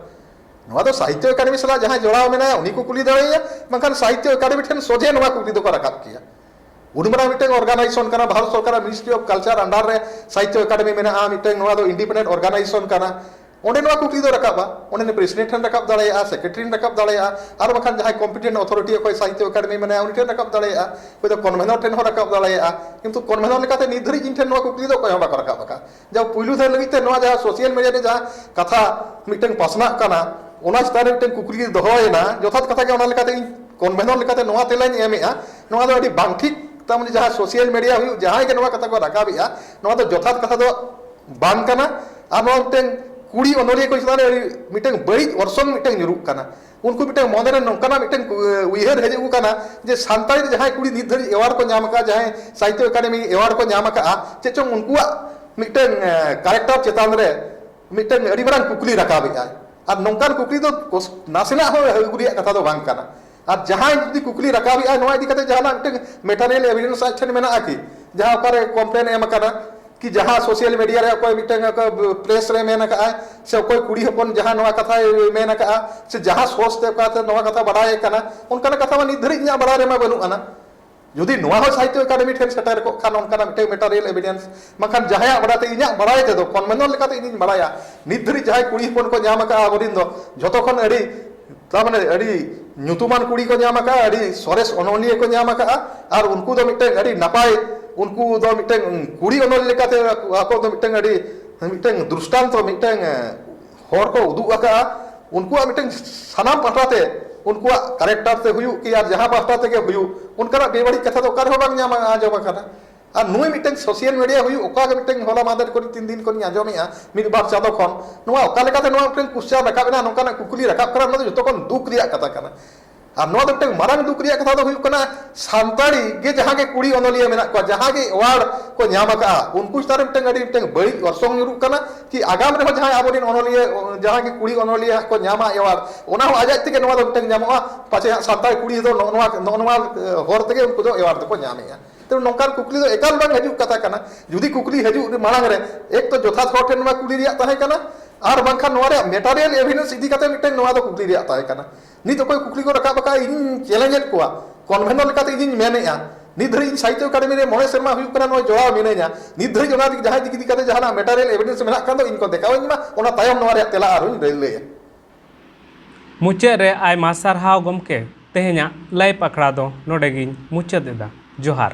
ᱱᱚᱣᱟ ᱫᱚ ᱥᱟᱦᱤᱛᱭᱚ ᱮᱠᱟᱰᱮᱢᱤ ᱥᱟᱞᱟᱜ ᱡᱟᱦᱟᱸᱭ ᱡᱚᱲᱟᱣ ᱢᱮᱱᱟᱭᱟ ᱩᱱᱤ ᱠᱚ ᱠᱩᱞᱤ ᱫᱟᱲᱮᱭᱟᱭᱟ ᱵᱟᱝᱠᱷᱟᱱ ᱥᱟᱦᱤᱛᱭᱚ ᱮᱠᱟᱰᱮᱢᱤ ᱴᱷᱮᱱ ᱥᱚᱡᱷᱮ ᱱᱚᱣᱟ ᱠᱩᱠᱞᱤ ᱫᱚᱠᱚ ᱨᱟᱠᱟᱵ ᱠᱮᱭᱟ ᱩᱱ ᱢᱟᱨᱟᱝ ᱢᱤᱫᱴᱟᱝ ᱚᱨᱜᱟᱱᱟᱭᱡᱮᱥᱚᱱ ᱠᱟᱱᱟ ᱵᱷᱟᱨᱚᱛ ᱥᱚᱨᱠᱟᱨᱟᱜ ᱢᱤᱱᱤᱥᱴᱨᱤ ᱚᱯᱷ ᱠᱟᱞᱪᱟᱨ ᱟᱱᱰᱟᱨ ᱨᱮ ᱥᱟᱦᱤᱛᱭᱚ ᱮᱠᱟᱰᱮᱢᱤ ᱢᱮᱱᱟᱜᱼᱟ ᱢᱤᱫᱴᱟᱝ ᱱᱚᱣᱟ ᱫᱚ ᱤᱱᱰᱤᱯᱮᱱᱰᱮᱱᱴ ᱚᱨᱜᱟᱱᱟᱭᱡᱮᱥᱚᱱ ᱠᱟᱱᱟ ᱚᱸᱰᱮ ᱱᱚᱣᱟ ᱠᱩᱠᱞᱤ ᱫᱚ ᱨᱟᱠᱟᱵᱟ ᱚᱸᱰᱮ ᱯᱨᱮᱥᱤᱰᱮᱱᱴ ᱴᱷᱮᱱ ᱨᱟᱠᱟᱵ ᱫᱟᱲᱮᱭᱟᱜᱼᱟ ᱥᱮᱠᱨᱮᱴᱟᱨᱤ ᱴᱷᱮᱱ ᱨᱟᱠᱟᱵ ᱫᱟᱲᱮᱭᱟᱜᱼᱟ ᱟᱨ ᱵᱟᱝᱠᱷᱟᱱ ᱡᱟᱦᱟᱸᱭ ᱠᱚᱢᱯᱤᱴᱮᱱᱴ ᱚᱛᱷᱚᱨᱤᱴᱤ ᱚᱠᱚᱭ ᱥᱟᱦᱤᱛᱭᱚ ᱮᱠᱟᱰᱮᱢᱤ ᱢᱮᱱᱟᱭᱟ ᱩᱱᱤ ᱴᱷᱮᱱ ᱨᱟᱠᱟᱵ ᱫᱟᱲᱮᱭᱟᱜᱼᱟ ᱚᱠᱚᱭ ᱫᱚ ᱠᱚᱱᱵᱷᱮᱱᱚᱨ ᱴᱷᱮᱱ ᱦᱚᱸ ᱨᱟᱠᱟᱵ ᱫᱟᱲᱮᱭᱟᱜᱼᱟ ᱠᱤᱱᱛᱩ ᱠᱚᱱᱵᱷᱮᱱᱚᱨ ᱞᱮᱠᱟᱛᱮ ᱱᱤᱛ ᱫᱷᱟᱹᱨᱤᱡ ᱤᱧ ᱴᱷᱮᱱ ᱱᱚᱣᱟ ᱠᱩᱠᱞᱤ ᱫᱚ ᱚᱠᱚᱭ ᱦᱚᱸ ᱵᱟᱠᱚ ᱨᱟᱠᱟᱵ ᱟᱠᱟᱫᱼᱟ ᱡᱟᱦᱟᱸ ᱯᱩᱭᱞᱩ ᱫᱷᱟᱣ ᱞᱟᱹᱜᱤᱫ ᱛᱮ ᱱᱚᱣᱟ ᱡᱟᱦᱟᱸ ᱥᱳᱥᱟᱞ ᱢᱤᱰᱤᱭᱟ ᱨᱮ ᱡᱟᱦᱟᱸ ᱠᱟᱛᱷᱟ ᱢᱤᱫᱴᱟᱝ ᱯᱟᱥᱱᱟᱜ ᱠᱟᱱᱟ ᱚᱱᱟ ᱪᱮᱛᱟᱱ ᱨᱮ ᱢᱤᱫᱴᱮᱱ ᱠᱩᱠᱞᱤ ᱫᱚᱦᱚᱭᱮᱱᱟ ᱡᱚᱛᱷᱟᱛ ᱠᱟᱛᱷᱟ ᱜᱮ ᱚᱱᱟ ᱞᱮᱠᱟᱛᱮ ᱤᱧ ᱠᱚᱱᱵᱷᱮᱱᱚᱨ ᱞᱮᱠᱟᱛᱮ ᱱᱚᱣᱟ ᱛᱮᱞᱟᱧ ᱮᱢᱮᱜᱼᱟ ᱱᱚᱣᱟ ᱫᱚ ᱟᱹᱰᱤ ᱵᱟᱝ ᱴᱷᱤᱠ ᱛᱟᱨᱢᱟᱱᱮ ᱡᱟᱦᱟᱸ ᱥᱳᱥᱟᱞ ᱢᱤᱰᱤᱭᱟ ᱦᱩᱭᱩᱜ ᱡᱟᱦᱟᱸᱭ ᱜᱮ ᱱᱚᱣᱟ ᱠᱟᱛᱷᱟ ᱠᱚ ᱨᱟᱠᱟᱵᱮᱜᱼᱟ ᱱᱚᱣᱟ ᱫᱚ ᱡᱚᱛᱷᱟᱛ ᱠᱟᱛᱷᱟ ᱫᱚ ᱵᱟᱝ ᱠᱟᱱᱟ ᱟᱨ ᱱᱚᱣᱟ ᱢᱤᱫᱴᱮᱱ ᱠᱩᱲᱤ ᱚᱱᱚᱞᱤᱭᱟᱹ ᱠᱚ ᱪᱮᱛᱟᱱ ᱨᱮ ᱢᱤᱫᱴᱟᱝ ᱵᱟᱹᱲᱤᱡ ᱚᱨᱥᱚᱝ ᱢᱤᱫᱴᱟᱝ ᱧᱩᱨᱩᱜ ᱠᱟᱱᱟ ᱩᱱᱠᱩ ᱢᱤᱫᱴᱟᱝ ᱢᱚᱱᱮᱨᱮ ᱱᱚᱝᱠᱟᱱᱟᱜ ᱢᱤᱫᱴᱟᱝ ᱩᱭᱦᱟᱹᱨ ᱦᱮᱡ ᱟᱹᱜᱩ ᱠᱟᱱᱟ ᱡᱮ ᱥᱟᱱᱛᱟᱲᱤ ᱨᱮ ᱡᱟᱦᱟᱸᱭ ᱠᱩᱲᱤ ᱱᱤᱛ ᱫᱷᱟᱹᱨᱤᱡ ᱮᱣᱟᱨᱰ ᱠᱚ ᱧᱟᱢ ᱟᱠᱟᱫᱼᱟ ᱡᱟᱦᱟᱸᱭ ᱥᱟᱦᱤᱛᱭᱚ ᱮᱠᱟᱰᱮᱢᱤ ᱮᱣᱟᱨᱰ ᱠᱚ ᱧᱟᱢ ᱟᱠᱟᱫᱼᱟ ᱪᱮᱫ ᱪᱚᱝ ᱩᱱᱠᱩᱣᱟᱜ ᱢᱤᱫᱴᱟᱝ ᱠᱟᱨᱮᱠᱴᱟᱨ ᱪᱮᱛᱟᱱ ᱨᱮ ᱢᱤᱫᱴᱟᱝ ᱟᱹᱰᱤ ᱢᱟᱨᱟᱝ ᱠᱩᱠᱞᱤ ᱨᱟᱠᱟᱵᱮᱫᱼᱟᱭ ᱟᱨ ᱱᱚᱝᱠᱟᱱ ᱠᱩᱠᱞᱤ ᱫᱚ ᱱᱟᱥᱮᱱᱟᱜ ᱦᱚᱸ ᱟᱹᱜᱩ ᱨᱮᱭᱟᱜ ᱠᱟᱛᱷᱟ ᱫᱚ ᱵᱟᱝ ᱠᱟᱱᱟ ᱟᱨ ᱡᱟᱦᱟᱸᱭ ᱡᱩᱫᱤ ᱠᱩᱠᱞᱤ ᱨᱟᱠᱟᱵᱮᱫᱼᱟᱭ ᱱᱚᱣᱟ ᱤᱫᱤ ᱠᱟᱛᱮ ᱡᱟᱦᱟᱱᱟᱜ ᱢᱤᱫᱴᱟᱝ ᱢᱮᱴᱟᱨᱤᱭᱟᱞ ᱮᱵᱷᱤᱰᱮᱱᱥ ᱟᱡ ᱴᱷᱮᱱ ᱢᱮᱱᱟᱜᱼᱟ ᱠᱤ ᱡᱟᱦᱟᱸ ᱚᱠᱟᱨᱮ ᱠᱚᱢᱯᱞᱮᱱ ᱮᱢ ᱟᱠᱟᱱᱟ ᱠᱤ ᱡᱟᱦᱟᱸ ᱥᱳᱥᱟᱞ ᱢᱤᱰᱤᱭᱟ ᱨᱮ ᱚᱠᱚᱭ ᱢᱤᱫᱴᱟᱝ ᱯᱨᱮᱥ ᱨᱮ ᱢᱮᱱ ᱟᱠᱟᱫ ᱟᱭ ᱥᱮ ᱚᱠᱚᱭ ᱠᱩᱲᱤ ᱦᱚᱯᱚᱱ ᱡᱟᱦᱟᱸ ᱱᱚᱣᱟ ᱠᱟᱛᱷᱟᱭ ᱢᱮᱱ ᱟᱠᱟᱫᱼᱟ ᱥᱮ ᱡᱟᱦᱟᱸ ᱥᱳᱨᱥ ᱛᱮ ᱚᱠᱟ ᱛᱮ ᱱᱚᱣᱟ ᱠᱟᱛᱷᱟ ᱵᱟᱰᱟᱭ ᱟᱠᱟᱱᱟ ᱚᱱᱠᱟᱱᱟᱜ ᱠᱟᱛᱷᱟ ᱢᱟ ᱱᱤᱛ ᱫᱷᱟᱹᱨᱤᱡ ᱤᱧᱟᱹᱜ ᱵᱟᱰᱟᱭ ᱨᱮᱢᱟ ᱵᱟᱹᱱᱩᱜ ᱟᱱᱟ ᱡᱩᱫᱤ ᱱᱚᱣᱟ ᱦᱚᱸ ᱥᱟᱦᱤᱛᱛᱚ ᱮᱠᱟᱰᱮᱢᱤ ᱴᱷᱮᱱ ᱥᱮᱴᱮᱨ ᱠᱚᱜ ᱠᱷᱟᱱ ᱚᱱᱠᱟᱱᱟᱜ ᱢᱤᱫᱴᱟᱝ ᱢᱮᱴᱟᱨᱤᱭᱟᱞ ᱮᱵᱷᱤᱰᱮᱱᱥ ᱵᱟᱝᱠᱷᱟᱱ ᱡᱟᱦᱟᱸᱭᱟᱜ ᱵᱟᱰᱟᱭ ᱛᱮ ᱤᱧᱟᱹᱜ ᱵᱟᱰᱟᱭ ᱛᱮᱫᱚ ᱠᱚᱱᱵᱷᱮᱱᱚᱱ ᱞᱮᱠᱟᱛᱮ ᱤᱧᱤᱧ ᱵᱟᱰᱟᱭᱟ ᱱᱤᱛ ᱫᱷᱟᱹᱨᱤᱡ ᱡᱟᱦᱟᱸᱭ ᱠᱩᱲᱤ ᱦᱚᱯᱚᱱ ᱠᱚ ᱧᱟᱢ ᱟᱠᱟᱫᱼᱟ ᱟᱵᱚᱨᱮᱱ ᱫᱚ ᱡᱷᱚᱛᱚ ᱠᱷᱚᱱ ᱟᱹᱰᱤ ᱛᱟᱨᱢᱟᱱᱮ ᱟᱹᱰᱤ ᱧᱩᱛᱩᱢᱟᱱ ᱠᱩᱲᱤ ᱠᱚ ᱧᱟᱢ ᱟᱠᱟᱫᱼᱟ ᱟᱹᱰᱤ ᱥᱚᱨᱮᱥ ᱚᱱᱚᱞᱤᱭᱟᱹ ᱠᱚ ᱧᱟᱢ ᱟᱠᱟᱫᱼᱟ ᱟᱨ ᱩᱱᱠᱩ ᱫᱚ ᱢᱤᱫᱴᱟᱝ ᱟᱹᱰᱤ ᱱᱟᱯᱟᱭ ᱩᱱᱠᱩ ᱫᱚ ᱢᱤᱫᱴᱟᱝ ᱠᱩᱲᱤ ᱚᱱᱚᱞᱤᱭᱟᱹ ᱞᱮᱠᱟᱛᱮ ᱟᱠᱚ ᱫᱚ ᱢᱤᱫᱴᱟᱝ ᱟᱹᱰᱤ ᱢᱤᱫᱴᱟᱝ ᱫᱨᱤᱥᱴᱟᱱᱛᱚ ᱢᱤᱫᱴᱟᱝ ᱦᱚᱨ ᱠᱚ ᱩᱫᱩᱜ ᱟᱠᱟᱫᱼᱟ ᱩᱱᱠᱩᱣᱟᱜ ᱢᱤᱫᱴᱟᱝ ᱥᱟᱱᱟᱢ ᱯᱟᱦᱴᱟ ᱛᱮ ᱩᱱᱠᱩᱣᱟᱜ ᱠᱟᱨᱮᱠᱴᱟᱨ ᱛᱮ ᱦᱩᱭᱩᱜ ᱠᱤ ᱟᱨ ᱡᱟᱦᱟᱸ ᱯᱟᱦᱴᱟ ᱛᱮᱜᱮ ᱦᱩᱭᱩᱜ ᱚᱱᱠᱟᱱᱟᱜ ᱵᱮᱵᱟᱹᱲᱤᱡ ᱠᱟᱛᱷᱟ ᱫᱚ ᱚᱠᱟ ᱨᱮᱦᱚᱸ ᱵᱟᱝ ᱧᱟᱢ ᱟᱸᱡᱚᱢ ᱟᱠᱟᱱᱟ ᱟᱨ ᱱᱩᱭ ᱢᱤᱫᱴᱟᱹᱝ ᱥᱚᱥᱤᱭᱟᱞ ᱢᱤᱰᱤᱭᱟ ᱦᱩᱭᱩᱜ ᱚᱠᱟ ᱜᱮ ᱢᱤᱫᱴᱟᱹᱝ ᱦᱚᱞᱟ ᱢᱟᱦᱫᱮᱨ ᱠᱚᱨᱮ ᱛᱤᱱ ᱫᱤᱱ ᱠᱷᱚᱱᱤᱧ ᱟᱸᱡᱚᱢᱮᱜᱼᱟ ᱢᱤᱫ ᱵᱟᱨ ᱪᱟᱸᱫᱚ ᱠᱷᱚᱱ ᱱᱚᱣᱟ ᱚᱠᱟ ᱞᱮᱠᱟᱛᱮ ᱱᱚᱣᱟ ᱢᱤᱫᱴᱟᱹᱝ ᱠᱩᱥᱪᱟᱱ ᱨᱟᱠᱟᱵ ᱮᱱᱟ ᱱᱚᱝᱠᱟᱱᱟᱜ ᱠᱩᱠᱞᱤ ᱨᱟᱠᱟᱵ ᱠᱟᱱᱟ ᱱᱚᱣᱟ ᱫᱚ ᱡᱚᱛᱚ ᱠᱷᱚᱱ ᱫᱩᱠ ᱨᱮᱭᱟᱜ ᱠᱟᱛᱷᱟ ᱠᱟᱱᱟ ᱟᱨ ᱱᱚᱣᱟ ᱫᱚ ᱢᱤᱫᱴᱟᱹᱝ ᱢᱟᱨᱟᱝ ᱫᱩᱠ ᱨᱮᱭᱟᱜ ᱠᱟᱛᱷᱟ ᱫᱚ ᱦᱩᱭᱩᱜ ᱠᱟᱱᱟ ᱥᱟᱱᱛᱟᱲᱤ ᱜᱮ ᱡᱟᱦᱟᱸ ᱜᱮ ᱠᱩᱲᱤ ᱚᱱᱚᱞᱤᱭᱟᱹ ᱢᱮᱱᱟᱜ ᱠᱚᱣᱟ ᱡᱟᱦᱟᱸ ᱜᱮ ᱮᱣᱟᱨᱰ ᱠᱚ ᱧᱟᱢ ᱟᱠᱟᱜᱼᱟ ᱩᱱᱠᱩ ᱪᱮᱛᱟᱱ ᱨᱮ ᱢᱤᱫᱴᱟᱹᱝ ᱟᱹᱰᱤ ᱢᱤᱫᱴᱟᱹᱝ ᱵᱟᱹᱲᱤᱡ ᱚᱨᱥᱚᱝ ᱧᱩᱨᱩᱜ ᱠᱟᱱᱟ ᱠᱤ ᱟᱜᱟᱢ ᱨᱮᱦᱚᱸ ᱡᱟᱦᱟᱸᱭ ᱟᱵᱚ ᱨᱮᱱ ᱚᱱᱚᱞᱤᱭᱟᱹ ᱡᱟᱦᱟᱸ ᱜᱮ ᱠᱩᱲᱤ ᱚᱱᱚᱞᱤᱭᱟᱹ ᱦᱟᱸᱜ ᱠᱚ ᱧᱟᱢᱟ ᱮᱣᱟᱨᱰ ᱚᱱᱟ ᱦᱚᱸ ᱟᱡ ᱟᱡ ᱛᱮᱜᱮ ᱱᱚᱣᱟ ᱫᱚ ᱢᱤᱫᱴᱟᱹᱝ ᱧᱟᱢᱚᱜᱼᱟ ᱯᱟᱪᱮ ᱦᱟᱸᱜ ᱥᱟᱱᱛᱟᱲ ᱠᱩᱲᱤ ᱫᱚ ᱱᱚᱜᱼᱚ ᱱᱚᱣᱟ ᱱᱚᱜᱼᱚ ᱱᱚᱣᱟ ᱦᱚᱨ ᱛᱮᱜᱮ ᱩᱱᱠᱩ ᱫᱚ ᱮᱣᱟᱨᱰ ᱫᱚᱠᱚ ᱧᱟᱢᱮᱜᱼᱟ ᱛᱚ ᱱᱚᱝᱠᱟᱱ ᱠᱩᱠᱞᱤ ᱫᱚ ᱮᱠᱟᱞ ᱵᱟᱝ ᱦᱤᱡᱩᱜ ᱠᱟᱛᱷᱟ ᱠᱟᱱᱟ ᱡᱩᱫᱤ ᱠᱩᱠᱞᱤ ᱦᱤᱡᱩᱜ ᱢᱟᱲᱟᱝ ᱨᱮ ᱮᱠ ᱛᱚ ᱡᱚᱛᱷᱟᱛ ᱦᱚᱲ ᱴᱷᱮᱱ ᱱᱚᱣᱟ ᱠᱩᱞᱤ ᱨᱮᱭᱟᱜ ᱛᱟᱦᱮᱸ ᱠᱟᱱᱟ ᱟᱨ ᱵᱟᱝᱠᱷᱟᱱ ᱱᱚᱣᱟ ᱨᱮᱭᱟᱜ ᱢᱮᱴᱟᱨᱤᱭᱟᱞ ᱮᱵᱷᱤᱰᱮᱱᱥ ᱤᱫᱤ ᱠᱟᱛᱮ ᱢᱤᱫᱴᱮᱱ ᱱᱚᱣᱟ ᱫᱚ ᱠᱩᱠᱞᱤ ᱨᱮᱭᱟᱜ ᱛᱟᱦᱮᱸ ᱠᱟᱱᱟ ᱱᱤᱛ ᱚᱠᱚᱭ ᱠᱩᱠᱞᱤ ᱠᱚ ᱨᱟᱠᱟᱵ ᱟᱠᱟᱫ ᱤᱧ ᱪᱮᱞᱮᱧᱡᱽ ᱮᱫ ᱠᱚᱣᱟ ᱠᱚᱱᱵᱷᱮᱱᱚᱨ ᱞᱮᱠᱟᱛᱮ ᱤᱧᱤᱧ ᱢᱮᱱᱮᱜᱼᱟ ᱱᱤᱛ ᱫᱷᱟᱹᱨᱤᱡ ᱤᱧ ᱥᱟᱦᱤᱛᱭᱚ ᱮᱠᱟᱰᱮᱢᱤ ᱨᱮ ᱢᱚᱬᱮ ᱥᱮᱨᱢᱟ ᱦᱩᱭᱩᱜ ᱠᱟᱱᱟ ᱱᱚᱣᱟ ᱡᱚᱲᱟᱣ ᱢᱤᱱᱟᱹᱧᱟ ᱱᱤᱛ ᱫᱷᱟᱹᱨᱤᱡ ᱚᱱᱟ ᱡᱟᱦᱟᱸ ᱤᱫᱤ ᱠᱟᱛᱮ ᱡᱟᱦᱟᱱᱟᱜ ᱢᱮᱴᱟᱨᱤᱭᱟᱞ ᱮᱵᱷᱤᱰᱮᱱᱥ ᱢᱮᱱᱟᱜ ᱠᱷᱟᱱ ᱫᱚ ᱤᱧ ᱠᱚ ᱫᱮᱠᱷᱟᱣᱟᱹᱧ ᱢᱟ ᱚᱱᱟ ᱛᱟᱭᱚᱢ ᱱᱚᱣᱟ ᱨᱮᱭᱟᱜ ᱛᱮᱞᱟ ᱟᱨᱦᱚᱸᱧ ᱞᱟᱹᱭᱟ ᱢᱩᱪᱟᱹᱫ ᱨᱮ ᱟᱭᱢᱟ ᱥᱟᱨᱦᱟᱣ ᱜᱚᱢᱠᱮ ᱛᱮᱦᱮᱧᱟᱜ ᱞᱟᱭᱤᱵᱷ ᱟᱠᱷᱲᱟ ᱫᱚ ᱱᱚᱰᱮ ᱜᱤᱧ ᱢᱩᱪᱟᱹᱫ ᱮᱫᱟ ᱡᱚᱦᱟᱨ᱾